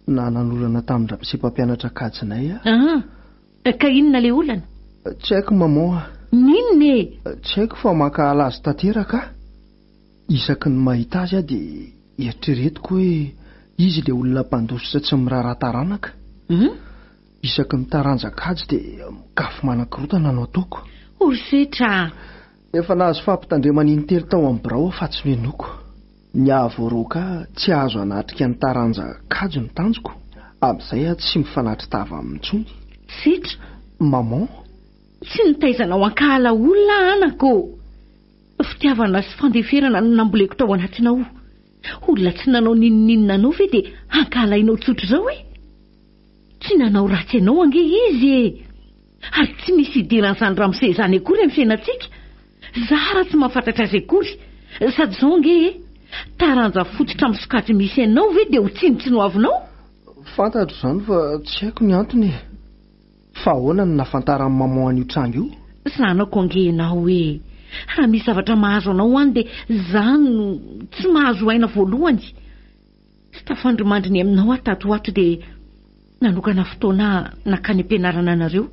na nanolana tamin-dRamose mpampianatra kajinay aho. Ah! Ka inona ilay olana? Tsy haiko maman ah. N'inona e? Tsy haiko fa mankahala azy tanteraka aho. Isaky ny mahita azy aho dia eritreretiko hoe izy ilay olona mpandositra tsy miraharaha taranaka. Isaky ny taranja kajy dia mikafo manan-kirotana no ataoko. Horosetra ah! Efa nahazo fampitandremana intelo tao amin'ny birao aho fa tsy nohenoiko. Nihavoaroaka tsy hahazo hanatrika ny taranja kajy ny tanjoko, amin'izay aho tsy mifanatri-tava aminy intsony. Setra, Maman, tsy nitaiza anao hankahala olona aho ana ko! Fitiavana sy fandeferana no namboleko tao anatinao. Olona tsy nanao n'inon'inona anao ve dia hankahalainao tsotra izao e? Tsy nanao ratsy anao ange izy e! Ary tsy misy hidiran'izany ramose izany akory amin'ny fiainantsika? Zara tsy mahafantatra azy akory. Sady izao ange e! Taranja fototra amin'ny sokajy misy anao ve dia ho tsinontsinoavinao? Fantatro izany fa tsy haiko ny antony e! Fa ahoana no nahafantaran'i maman an'io tranga io? Zanako ange ianao e! Raha misy zavatra mahazo anao any dia izaho no tsy mahazo aina voalohany. Tsy tafandrimandry ny aminao aho tato ho ato dia nanokana fotoana aho nankany am-pianarana anareo,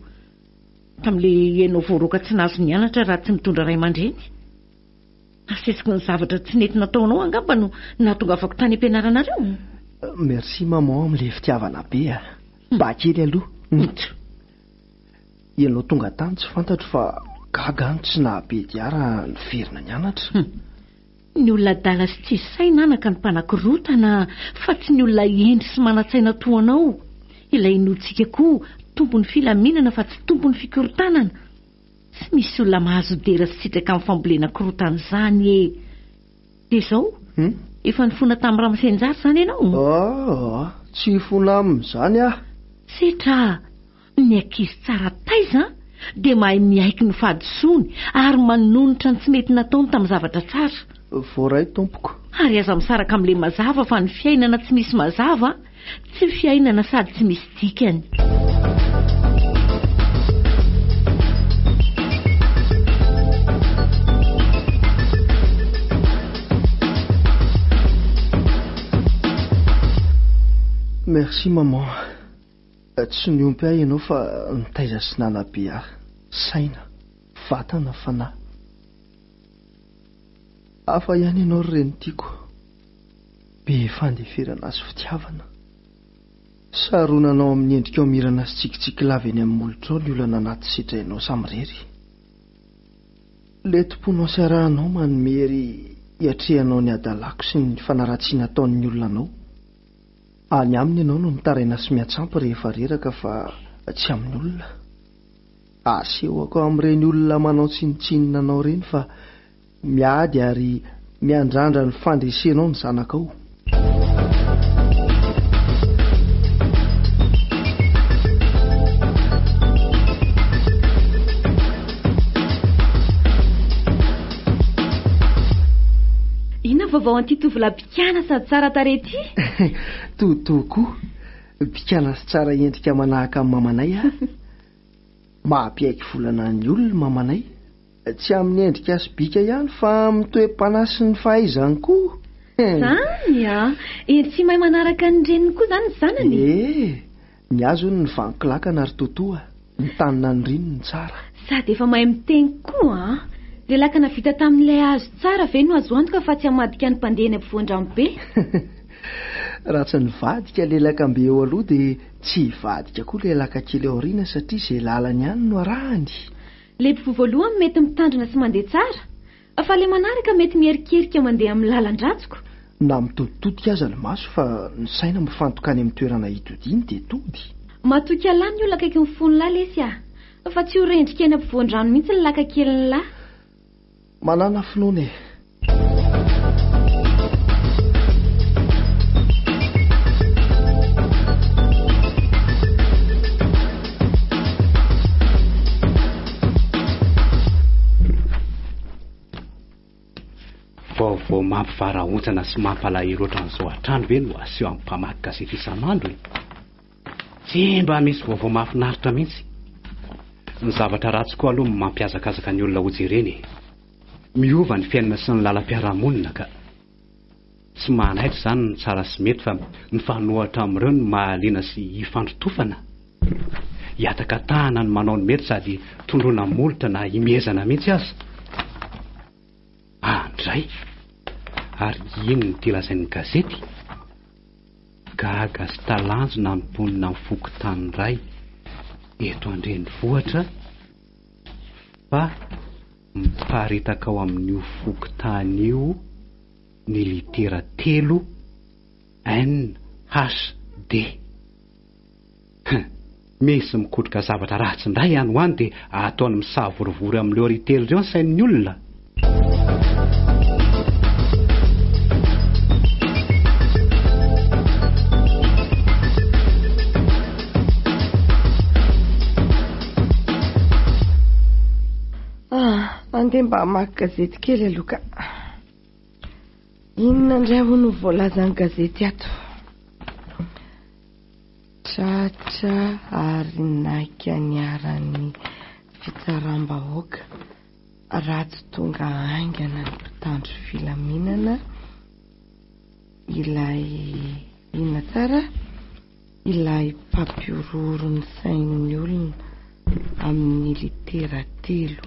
tamin'ilay ianao voaroaka tsy nahazo nianatra raha tsy mitondra ray aman-dreny. Nasesiky ny zavatra tsy nety nataonao angamba no nahatongavako tany am-pianaranareo. Merci maman amin'ilay fitiavana be a! Mba kely aloha, ntsy! Ianao tonga tany tsy fantatro fa gaga aho no tsy nahabe dia raha niverina nianatra. Ny olona adala sy tsisy saina anaka no mpanakorotana fa tsy ny olona hendry sy manan-tsaina toa anao. Ilay inoantsika koa tompon'ny filaminana fa tsy tompon'ny fikorontanana. Tsy misy olona mahazo dera sy sitraka amin'ny fambolena korotana izany e! Dia izao, efa nifona tamin'i Ramasenjara izany ianao? Aa! Tsy hifona aminy izany aho! Setra! Ny ankizy tsara taiza dia mahay miaiky ny fahadisoany ary manonitra ny tsy mety nataony tamin'ny zavatra tsara. Voaray tompoko. Ary aza misaraka amin'ilay mazava fa ny fiainana tsy misy mazava tsy fiainana sady tsy misy dikany. Merci maman. Tsy niompy ahy ianao fa nitaiza sy nanabe ahy, saina, vatana, fanahy. Hafa ihany ianao ry reny tiako, be fandeferana sy fitiavana. Saronanao amin'ny endrikao mirana sy tsikitsiky lava eny amin'ny molotrao ny olana anaty sedrainao samirery. Leti-ponao sy arahanao manome hery hiatrehanao ny hadalako sy ny fanaratsiana ataon'ny olona anao. Any aminy ianao no mitaraina sy miantsampy rehefa reraka fa tsy amin'ny olona. Asehoko amin'ireny olona manao tsinontsinona anao ireny fa miady ary miandrandra ny fandresenao ny zanakao. Kiana sady tsara tarehy ity! Totoa koa! Bikana sy tsara endrika manahaka an'i mamanay aho. Mahampihaiky volana ny olona i mamanay. Tsy amin'ny endrika sy bika ihany fa amin'ny toe-panahy sy ny fahaizany koa! Izany a! Eny tsy mahay manaraka ny reniny koa izany ny zanany e! Ny azy hono ny vanon-kilakana ry Toto a! Ny tany naniriny no tsara. Sady efa mahay miteny koa an! Dia lakana vita tamin'ilay hazo tsara ve no azo antoka fa tsy hamadika ny mpandeha eny ampovoan-dranobe? Raha tsy nivadika ilay lakambe eo aloha dia tsy hivadika koa ilay laka kely ao aoriana satria izay lalany ihany no arahany! Ilay mpivoa voalohany mety mitandrina sy mandeha tsara? Fa le manaraka mety miherikerika mandeha amin'ny lalan-dratsiko. Na mitoditotika aza ny maso fa ny saina mifantoka any amin'ny toerana hitodiany dia tody. Matoky Allah ny olona akaiky ny fon'lah lesy ah. Fa tsy ho rendrika eny ampovoan-drano mihitsy ny laka kelin'lah. Manana finoana e. Vaovao mampivarahontsana sy mampalahelo ohatran'izao hatrany ve no aseho amin'ny mpamaky gazety isan'andro e? Tsy mba misy vaovao mahafinaritra mihitsy. Ny zavatra ratsy koa aloha mampiazakazaka ny olona hojerena e. Miova ny fiainana sy ny lalam-piarahamonina ka. Tsy manaitra izany ny tsara sy mety fa mifanohitra amin'ireo ny mahaliana sy hifandrotofana. Hihataka tahana ny manao ny mety sady tondroina molotra na himehezana mihitsy aza. Andray! Ary ino ity lazain'ny gazety? Gaga sy talanjona ny mponina amin'ny fokontany iray eto an-drenivohitra fa. Miparitaka ao amin'io fokontany io ny litera telo NHD. Hein! Misy mikotroka zavatra ratsy indray any ho any dia ataony misavorivory amin'ireo riz telo ireo ny sain'ny olona. Ah, andeha mba hamaky gazety kely aloha ka. Inona indray hono no voalazan'ny gazety ato? Tratra ary naika niaran'ny fitsaram-bahoaka raha tsy tonga haingana ny mpitandro filaminana ilay inona tsara? ilay mpampihorohoro ny sain'ny olona amin'ny litera telo,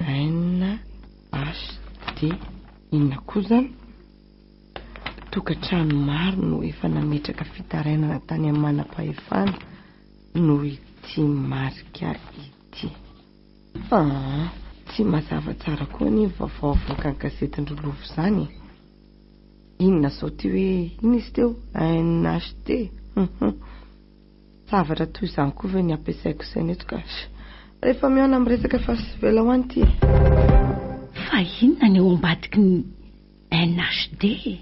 NHD, inona koa izany? Tokantrano maro no efa nametraka fitarainana tany amin'ny manam-pahefana noho ity marika ity. Aa! tsy mazava tsara koa anie ny vaovao avoakan'ny gazetin-dry Lova izany e! Inona sao ity hoe inona izy teo? NHT? Hum hum! zavatra toy izany koa ve ny ampiasaiko saina eto ka? Rehefa mihaona amin'ny resaka efa tsy ela ho any ity e! Fa inona ny ao ambadiky ny NHT e?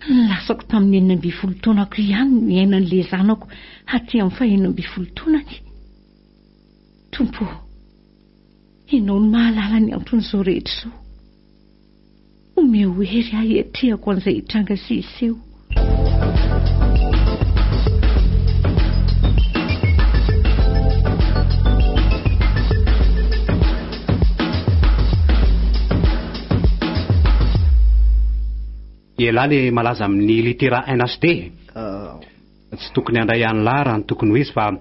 Ny lasako tamin'ny enina ambin'ny folo taonako ihany no iainan'ilay zanako aty amin'ny faheno ambin'ny folo taonany. Tompo o, Ianao no mahalala ny anton'izao rehetra izao. Omeo hery ahy hiatrehako an'izay hitranga sy hiseho. Ialahy le malaza amin'ny litera NHD e! Tsy tokony handray an'lah raha ny tokony ho izy fa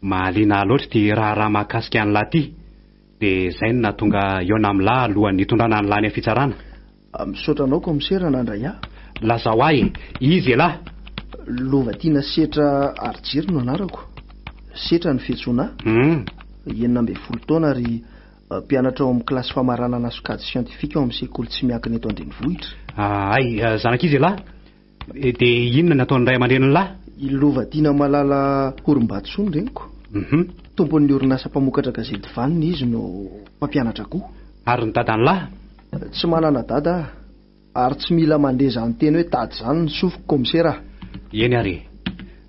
mahaliana ahy loatra ity raharaha mahakasika an'lah ity dia izay no nahatonga hihaona amin'lah alohan'ny hitondrana an'lah any am-pitsarana. Misaotra anao kaomisera nandray ahy. Lazao ahy e! Iza ialahy? Lovatiana Setra Harijery no anarako. Setra no fiantsoana ahy. Enina ambin'ny folo taona ary Mpianatra ao amin'ny kilasy famaranana sokajy siantifika ao amin'ny sekoly tsy miankina eto an-drenivohitra. Ahay zanak'izy lahy dia inona ny ataon'ny ray aman-dreniny lahy? I Lovatiana Malala Horimbatsoa ny reniko. Tompon'ny orinasa mpamokatra gazety vanona izy no mpampianatra koa. Ary ny dadany lahy? Tsy manana dada aho ary tsy mila mandeha izany teny hoe dada izany ny sofiko kaomisera a! Eny ary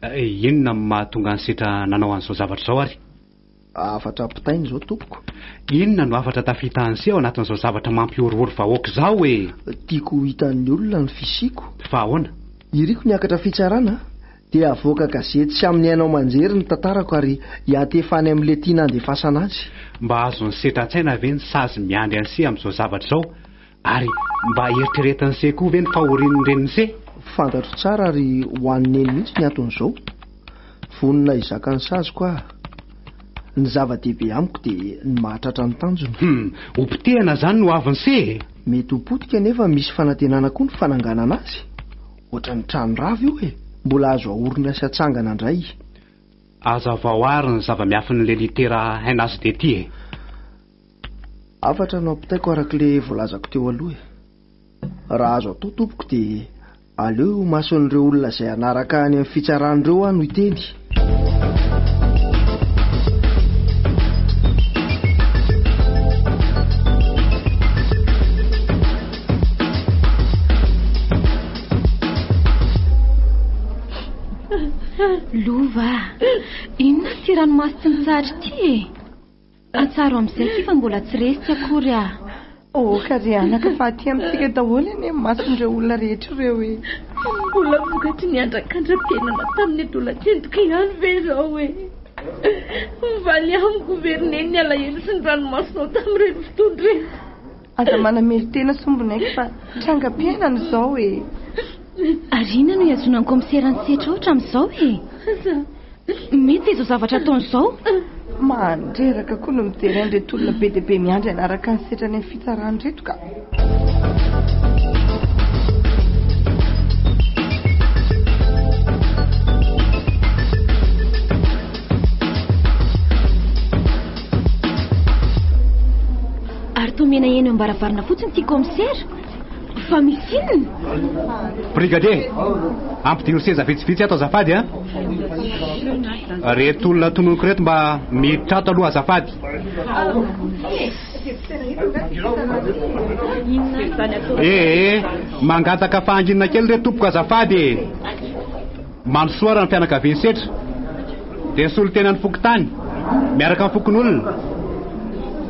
e! Inona no mahatonga an'i Setra nanao an'izao zavatra izao ary? Hafatra ampitaina izao tompoko. Inona no hafatra tafita an'se ao anatin'izao zavatra mampihorohoro vahoaka izao e! Tiako ho hitan'ny olona ny fisiako. Fa ahoana? Iriko ny hiakatra fitsarana dia havoaka gazety sy amin'ny haino aman-jery ny tantarako ary hiantefa any amin'ilay tiana handefasana azy. Mba azon'i se tratsaina ve ny sazy miandry an'se amin'izao zavatra izao? Ary mba eritreretin'i se koa ve ny fahorian'ny renin'i se? Fantatro tsara ary ho an'i neny mihitsy ny anton'izao. Vonona hizaka ny saziko aho. Ny zava-dehibe amiko dia ny mahatratra ny tanjona. Hum, ho potehana izany ny ho avin'i se e! Mety ho potika nefa misy fanantenana koa ny fananganana azy. Ohatran'ny trano rava io e! Mbola azo ahorina sy atsangana indray. Hazavao àry ny zava-miafin'ilay litera NHD ity e! Hafatra no ampitaiko arak'ilay voalazako teo aloha e. Raha azo atao tompoko dia aleo eo imason'ireo olona izay hanaraka any amin'ny fitsarana ireo aho no hiteny. Lova, inona ity ranomaso tsy mitsahatra ity e? Atsaro amzay ki fa mbola tsy resy tsy akory ah. Aoka ry anaka fa aty amintsika daholo anie ny mason'ireo olona rehetra ireo e. Mbola vokatry ny andrakandram-piainana tamin'ny adolatsentiko ihany ve izao e? Mivaly amiko ve ry Neny ny alahelo sy ny ranomasonao tamin'ireny fotoana ireny? Aza manamely tena sombinay fa trangam-piainana izao e. Ary inona no ihazoana ny kaomisera ny setra ohatran'izao e? Mety izao zavatra ataony izao. Mandreraka koa no mijery an'ireto olona be dia be miandry hanaraka ny setra any amin'ny fitsarana ireto ka. Ary toa mena eny am-baravarana fotsiny ity kaomisera. Fa misy inona? Brigadier, ampidino seza vitsivitsy ato azafady a. Reto olona tononiko reto mba miditra ato aloha azafady. Ee, mangataka fahanginana kely re tompoko azafady e. Mandrosoa ranom-pianakavian'i Setra dia solontenan'ny fokontany miaraka amin'ny fokonolona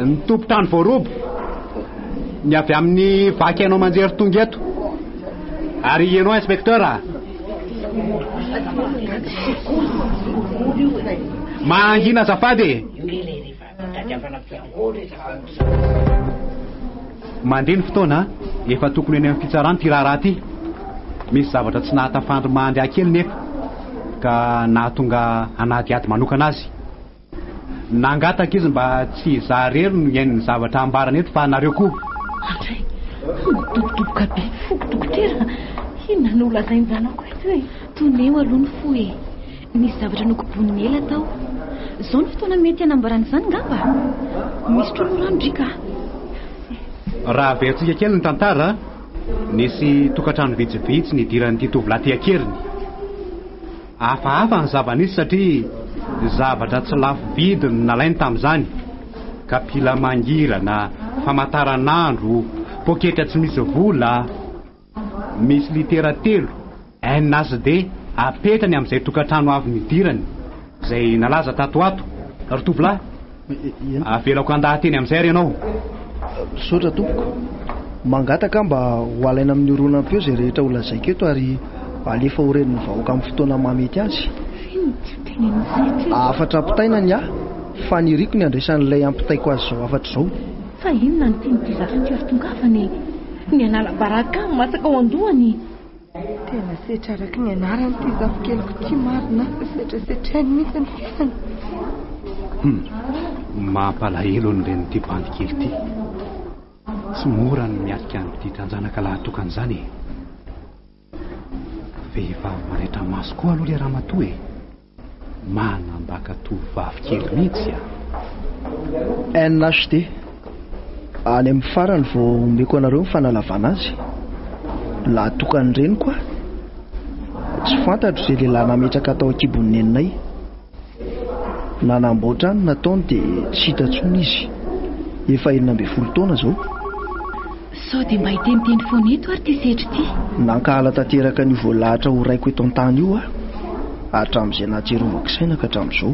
ny tompon-trano voaroba ny avy amin'ny vaky haino aman-jery tonga eto ary ianao inspecteur a! Mangina azafady e! Tadiavana Pierrot re za aloha zany. Mandeha ny fotoana, efa tokony eny amin'ny fitsarana ity raharaha ity. Misy zavatra tsy nahatafandry Mahandià kely nefa ka nahatonga hanadihady manokana azy. Nangataka izy mba tsy izaho irery no hihaino ny zavatra ambarany eto fa nareo koa. Andray, madobodoboka be ny foko dokotera, inona no holazain'ny zanako eto e? Toneo aloha ny fo e. Nisy zavatra nokobonin'i Ela tao. Izao no fotoana mety hanambarana izany ngamba? Misotroa aloha rano Driaka a! Raha averintsika kely ny tantara, nisy tokantrano vitsivitsy nidiran'ity tovolahy ity an-keriny. Hafahafa ny zava-nisy satria zavatra tsy lafo vidy no nalainy tamin'izany. Kapila mangirana, famantaranandro, poketra tsy misy vola. Misy litera telo, N, A sy D, apetrany amin'izay tokantrano avy nidirany, izay nalaza tato ho ato. Ry tovolahy, avelako handaha-teny amin'izay ary ianao. Misaotra tompoko. Mangataka aho mba ho alaina amin'ny horonam-peo izay rehetra ho lazaiko eto ary alefa ho ren'ny vahoaka amin'ny fotoana mahamety azy. Hafatra ampitaina ny ahy, faniriako ny handraisan'ilay ampitaiko azy izao hafatra izao. Fa inona no tian'ity zatra ity ry tongavana e? Ny anala baraka matsaka ao an-dohany. Tena setra araka ny anaran'ity zafikeliko ity marina fa setrasetrainy mihitsy ny fihany. Hum, mampalahelo ny renin'ity bandy kely ity. Tsy mora ny miatrika an'ity tranjanaka lahatokana izany e. Vehivavy manaitra maso koa aloha le ramatoa e! Manambaka tovovavy kely mihitsy a! NHD, Any amin'ny farany vao omeko anareo ny fanalavana azy. Lahy tokan'ny reniko aho. Tsy fantatro izay lehilahy nametraka tao an-kibon'ny neninay. Nanamboatra ny nataony dia tsy hita intsony izy. Efa enina ambin'ny folo taona izao. Sao dia mba hiteniteny foana eto ary ity setra ity. Nankahala tanteraka an'io voalahatra ho raiko eto an-tany io aho, hatramin'izay nahatsiarovako saina ka hatramin'izao.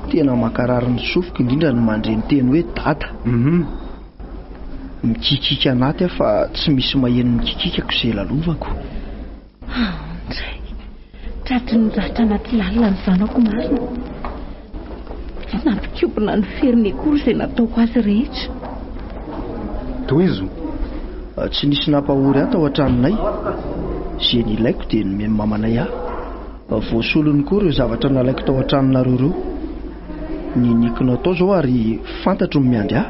Tena mankarary ny sofiko indrindra ny mandre ny teny hoe dada. Hum. Mikikiaka anaty aho fa tsy misy maheno ny kikikako izay lalovako. Aon-dray! Tratry ny ratra anaty lalina ny zanako marina. Tsy nampikobona ny feriny akory izay nataoko azy rehetra. Tohizo, tsy nisy nampahory ahy tao an-tranonay. Izay nilaiko dia nomeny mamanay ahy. Voasolony koa ireo zavatra nalaiko tao an-tranonareo ireo. Niniako natao izao ary fantatro ny miandry ahy.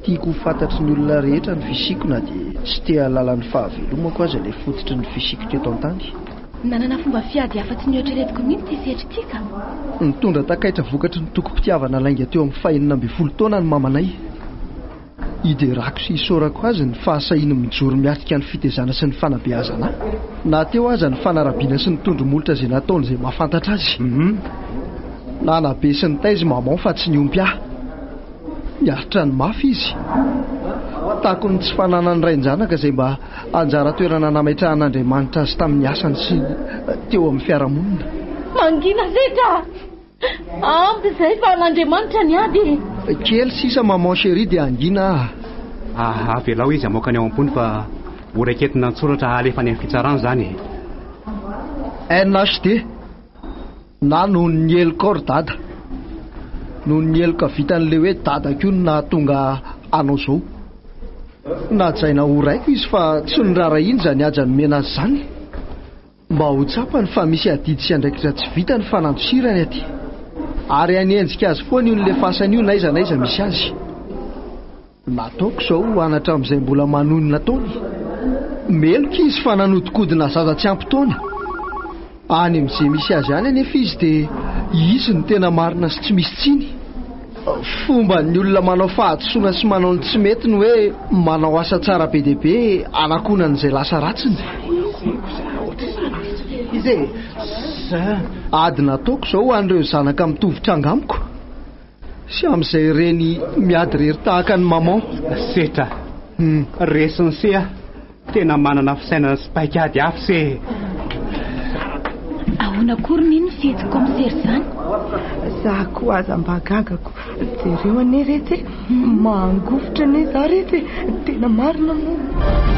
Tiako ho fantatry ny olona rehetra ny fisiako na dia tsy te hahalala ny fahavelomako aza ilay fototry ny fisiako teto an-tany. Nanana fomba fiady hafa tsy mihoatra ireto koa mihitsy i Setrika. Nitondra takaitra vokatry ny tokim-pitiavana lainga teo amin'ny fahenina ambin'ny folo taona ny mamanay. Hiderako sy hisaorako azy ny fahasahiany mijoro miatrika ny fitezana sy ny fanabeazana ahy, na teo aza ny fanarabiana sy ny tondro-molotra izay nataony izay mahafantatra azy. Nanabe sy nitaiza i Maman fa tsy niompy ahy. Miaritra ny mafy izy. Takon'ny tsy fananan'ny rain-janaka izay mba anjara toerana nametrahan'Andriamanitra azy tamin'ny asany sy teo amin'ny fiarahamonina. Mangina setra! Ampy izay fa an'Andriamanitra ny ady e! Kely sisa maman chérie dia hangina aho. Avelao izy hamoaka ny ao am-pony fa horaiketina an-tsoratra halefa any amin'ny fitsarana izany e! NHD. Na noho ny heloka ry dada. Noho ny heloka vitan'ilay hoe dada koa no nahatonga anao izao. Nahajaina ho raiko izy fa tsy noraharahiany izany haja nomena azy izany. Mba ho tsapany fa misy adidy sy andraikitra tsy vita ny fanandosirany aty. Ary hanenjika azy foana io nilefasany io n'aiza n'aiza misy azy. Nataoko izao ho an' hatramin'izay mbola manonona taona. Meloka izy fa nanodikodina zaza tsy ampy taona. Any amin'izay misy azy any anefa izy dia izy no tena marina sy tsy misy tsiny. Fomban'ny olona manao fahadisoana sy manao ny tsy mety ny hoe manao asa tsara be dia be hanakonany izay lasa ratsiny. Ady nataoko izao ho an'ireo zanaka mitovy tranga amiko. Sy amin'izay reny miady rery tahaka an'i maman. Setra. Resin'i se a! Tena manana fisainana sy paik'ady avy se e! Ahoana koa ry neny ny fihetsiny kaomisera izany? Za koa aza mba gaga ko! Jereo anie retsy e! Mangovitra anie za retsy e! Tena marina moa!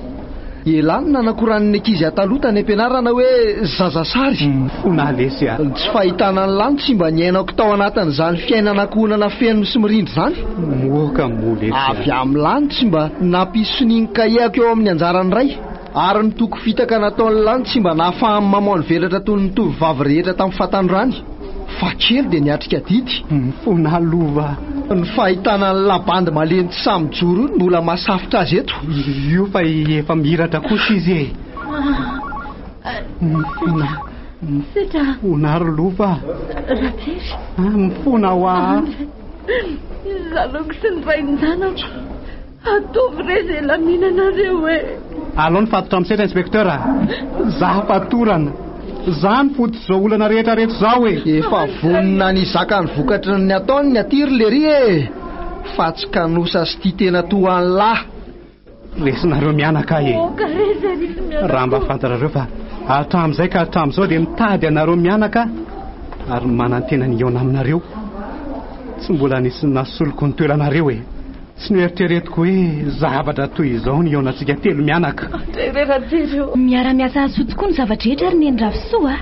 Ela no nanakorany ny ankizy hataloha tany am-pianarana hoe zaza sary. Ona lesy a! Ny tsy fahitana an'i Lany tsy mba niainako tao anatin'izany fiainana ankohonana feno sy mirindra izany. Moka moa lesy a! Avy amin'i Lany tsy mba nampisy sonia ny kahiako eo amin'ny anjaran'ny ray. Ary ny toky fitaka nataon'i Lany tsy mba nahafahany mamono velatra toy ny tovovavy rehetra tamin'ny fahatanorany. Fa kely dia niatrika adidy ny foana lova. Ny fahitana an'i Labandy malemy tsy sahy mijoro io no mbola mahasafitra azy eto. Io fa efa mihiratra kosa izy e. Mifona. Mifona ry lova. Ratery. Mifona hoa. Izaho aloha sy ny rain-janako. Ataovy re izay laminanareo e! Alao ny fatotra amin'ny seza Inspecteur a! Za fatorana! Za no fototr izao olana rehetra reto zao e! Efa vonona ny hizaka ny vokatry ny ataony ny aty ry lery e! Fa tsy kanosa sy tia tena toa an lah! Resinareo mianaka e! Aoka re izay resy mianaka ô! Raha mba fantarareo fa hatramin'izay ka hatramin'izao dia mitady anareo mianaka ary manantena ny hihaona aminareo! Tsy mbola nisy nasoloky ny toeranareo e! Tsy noeritreretiko hoe zavatra toy izao ny hihaonantsika telo mianaka. Miara-miasa hahasoa tokoa ny zava-drehetra ry Neny Ravisoa a!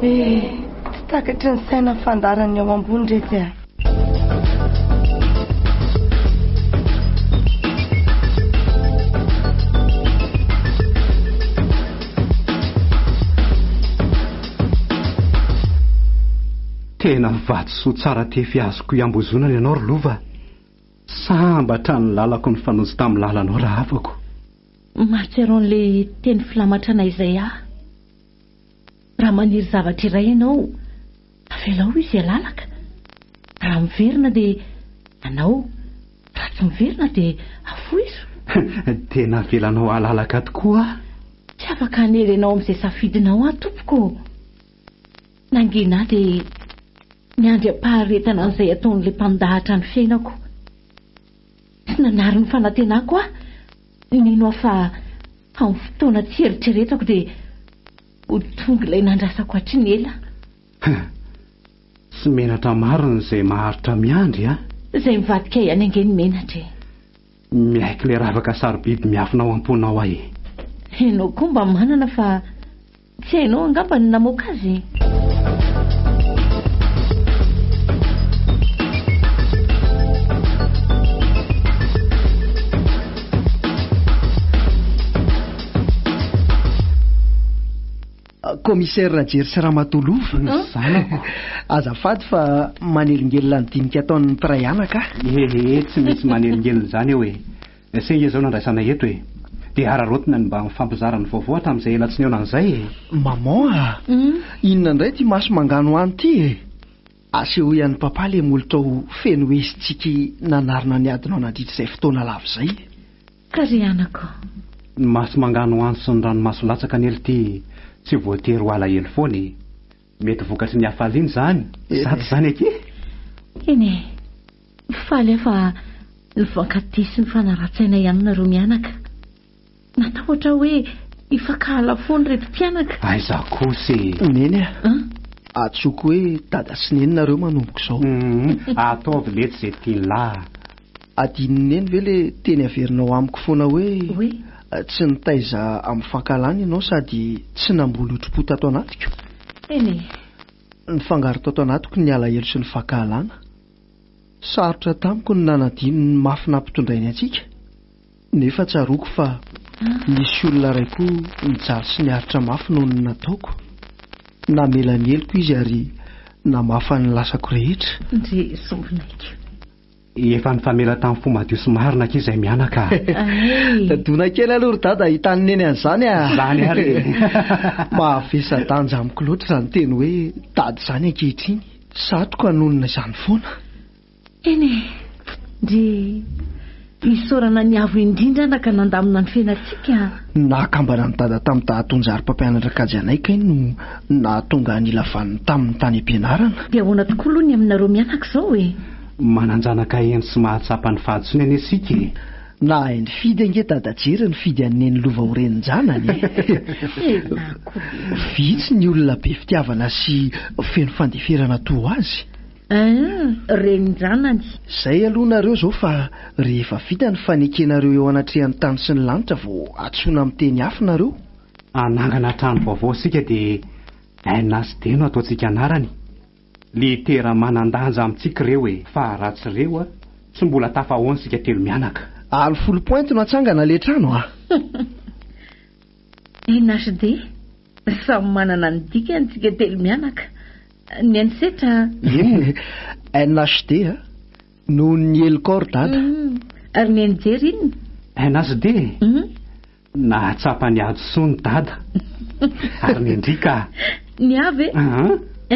Eh, tsy takatry ny saina fandaharan'ny ao ambony retsy a! Tena vatosoa tsara tefy azoko iambozonana ianao ry Lova a! Sambatra ny lalako nifanojo tamin'ny lalanao rahavako. Mahatsiaro an'ilay teny filamatrana Isaia. Raha maniry zavatra iray ianao, avelao izy halalaka. Raha miverina dia anao, raha tsy miverina dia afoizo. Dia navelanao halalaka tokoa aho. Tsy afaka hanery anao amin'izay safidinao aho, tompoko ô. Nangina ahy dia ny andriampaharetana an'izay ataon'ilay mpandahatra ny fiainako. Tsy nanary ny fanantenako aho, nino aho fa amin'ny fotoana tsy eritreretako dia ho tonga ilay nandrasako hatry ny ela. Tsy menatra marina izay maharitra miandry an! Izay mivadika ihany ange no menatra e! Miaiky ilay ravaka sarobidy miafina ao am-ponao aho e! Ianao koa mba manana fa. Tsy hainao angamba ny namoaka azy e? Commissaire Rajery sy Ramatoa Lova, ny zanako. Azafady fa manelingelina ny dinika ataon'ny mpiray anaka. Ehe, tsy misy manelingelina izany eo e. Singa izao no andraisana eto e! Dia hararaotina ny mba mifampizara ny vaovao hatramin'izay ela tsy nihaona an'izay e! Maman a! Inona indray ity maso mangano any ity e! Asehoy an'i Papa ilay molotò feno hehy sy tsiky nanarona ny adinao nandritra izay fotoana lava izay e! Ka ry anako. Ny maso mangano any sy ny ranomaso latsaka anie l'ty tsy voatery ho alahelo foana e! Mety vokatry ny hafaliana izany. Zato izany akia. Eny e. Faly aho fa nifankatia sy nifanarahan-tsaina ihany nareo mianaka. Natahotra aho hoe hifankahala foana ireto mpianaka. Aiza kosa e. Neny a. An? Antsoiko hoe dada sy neny nareo manomboka izao. Ataovy letsy izay tian'lah. Adinon'i Neny ve le teny averinao amiko foana hoe tsy nitaiza amin'ny fankahalana ianao sady tsy namboly otri-po tato anatiko? Eny e! Nifangaro tato anatiko ny alahelo sy ny fankahalana. Sarotra tamiko ny nanadino ny mafy nampitondrainy antsika, nefa tsaroako fa nisy olona iray koa nijaly sy niaritra mafy noho ny nataoko. Namela ny heloko izy ary namafa ny lasako rehetra. Ndry sombinaiko. Efa nifamela tamin'ny fo madio sy marina akia izay mianaka. Tadona kely aloha ry dada hahita an'i neny an'izany a! Izany ary e! Mahavesa-danja amiko loatra izany teny hoe dada izany ankehitriny. Satoko hanonona izany foana. Eny e! Ndry! Isaorana ny Avo indrindra anaka nandamina ny fiainantsika a! Ny nahakambana an'i dada tamin'ny dahatony-jary mpampianatra kajy anay kay no nahatonga an'ila vaniny taminy tany am-pianarana. Dia ahoana tokoa aloha ny aminareo mianaka izao e? Manan-janaka heno sy mahatsapa ny fahadisoany anie isika e! Nahay nifidy ange Dada Jery nifidy an'i Neny lova ho renin-janany e! Tena akory! Vitsy ny olona be fitiavana sy feno fandeferana toa azy. Eeh, renin-janany! Zay aloha nareo zao fa rehefa vita ny fanekenareo eo anatrehan'ny tany sy ny lanitra vao atsoina amin'ny teny afo nareo. Hanangana trano vaovao isika dia NHD no ataontsika anarany. Litera manandanja amintsika reo e fa ra tsy reo a tsy mbola tafahaona sika telo mianaka. Alo folo pointy no atsangana le trano a! NHD, samy manana ny dikany tsika telo mianaka. Ny an'i Setra a! Inona e? NHD, nohon'ny helokao ry dada. Hum, ary ny an'i Jerry inona? NHD, Nahatsapa ny hadisoany i Dada ary nendrika. Ny ahy ve?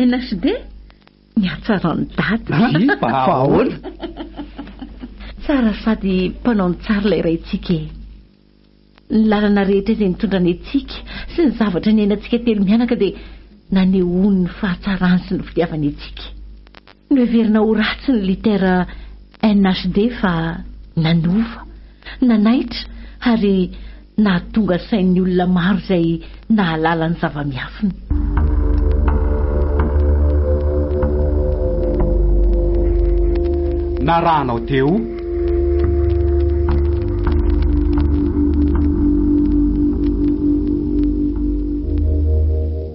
NHD, ny hatsaran'i Dada. Vy fa ahoana? Tsara sady mpanao ny tsara ilay raintsika e! Ny lalana rehetra izay nitondrany antsika sy ny zavatra niainantsika telo mianaka dia nanehoany ny fahatsarany sy ny fitiavany antsika. Noheverina ho ratsy ny litera NHD fa nanova, nanaitra ary nahatonga sain'ny olona maro izay nahalala ny zava-miafina. Narahanao teo.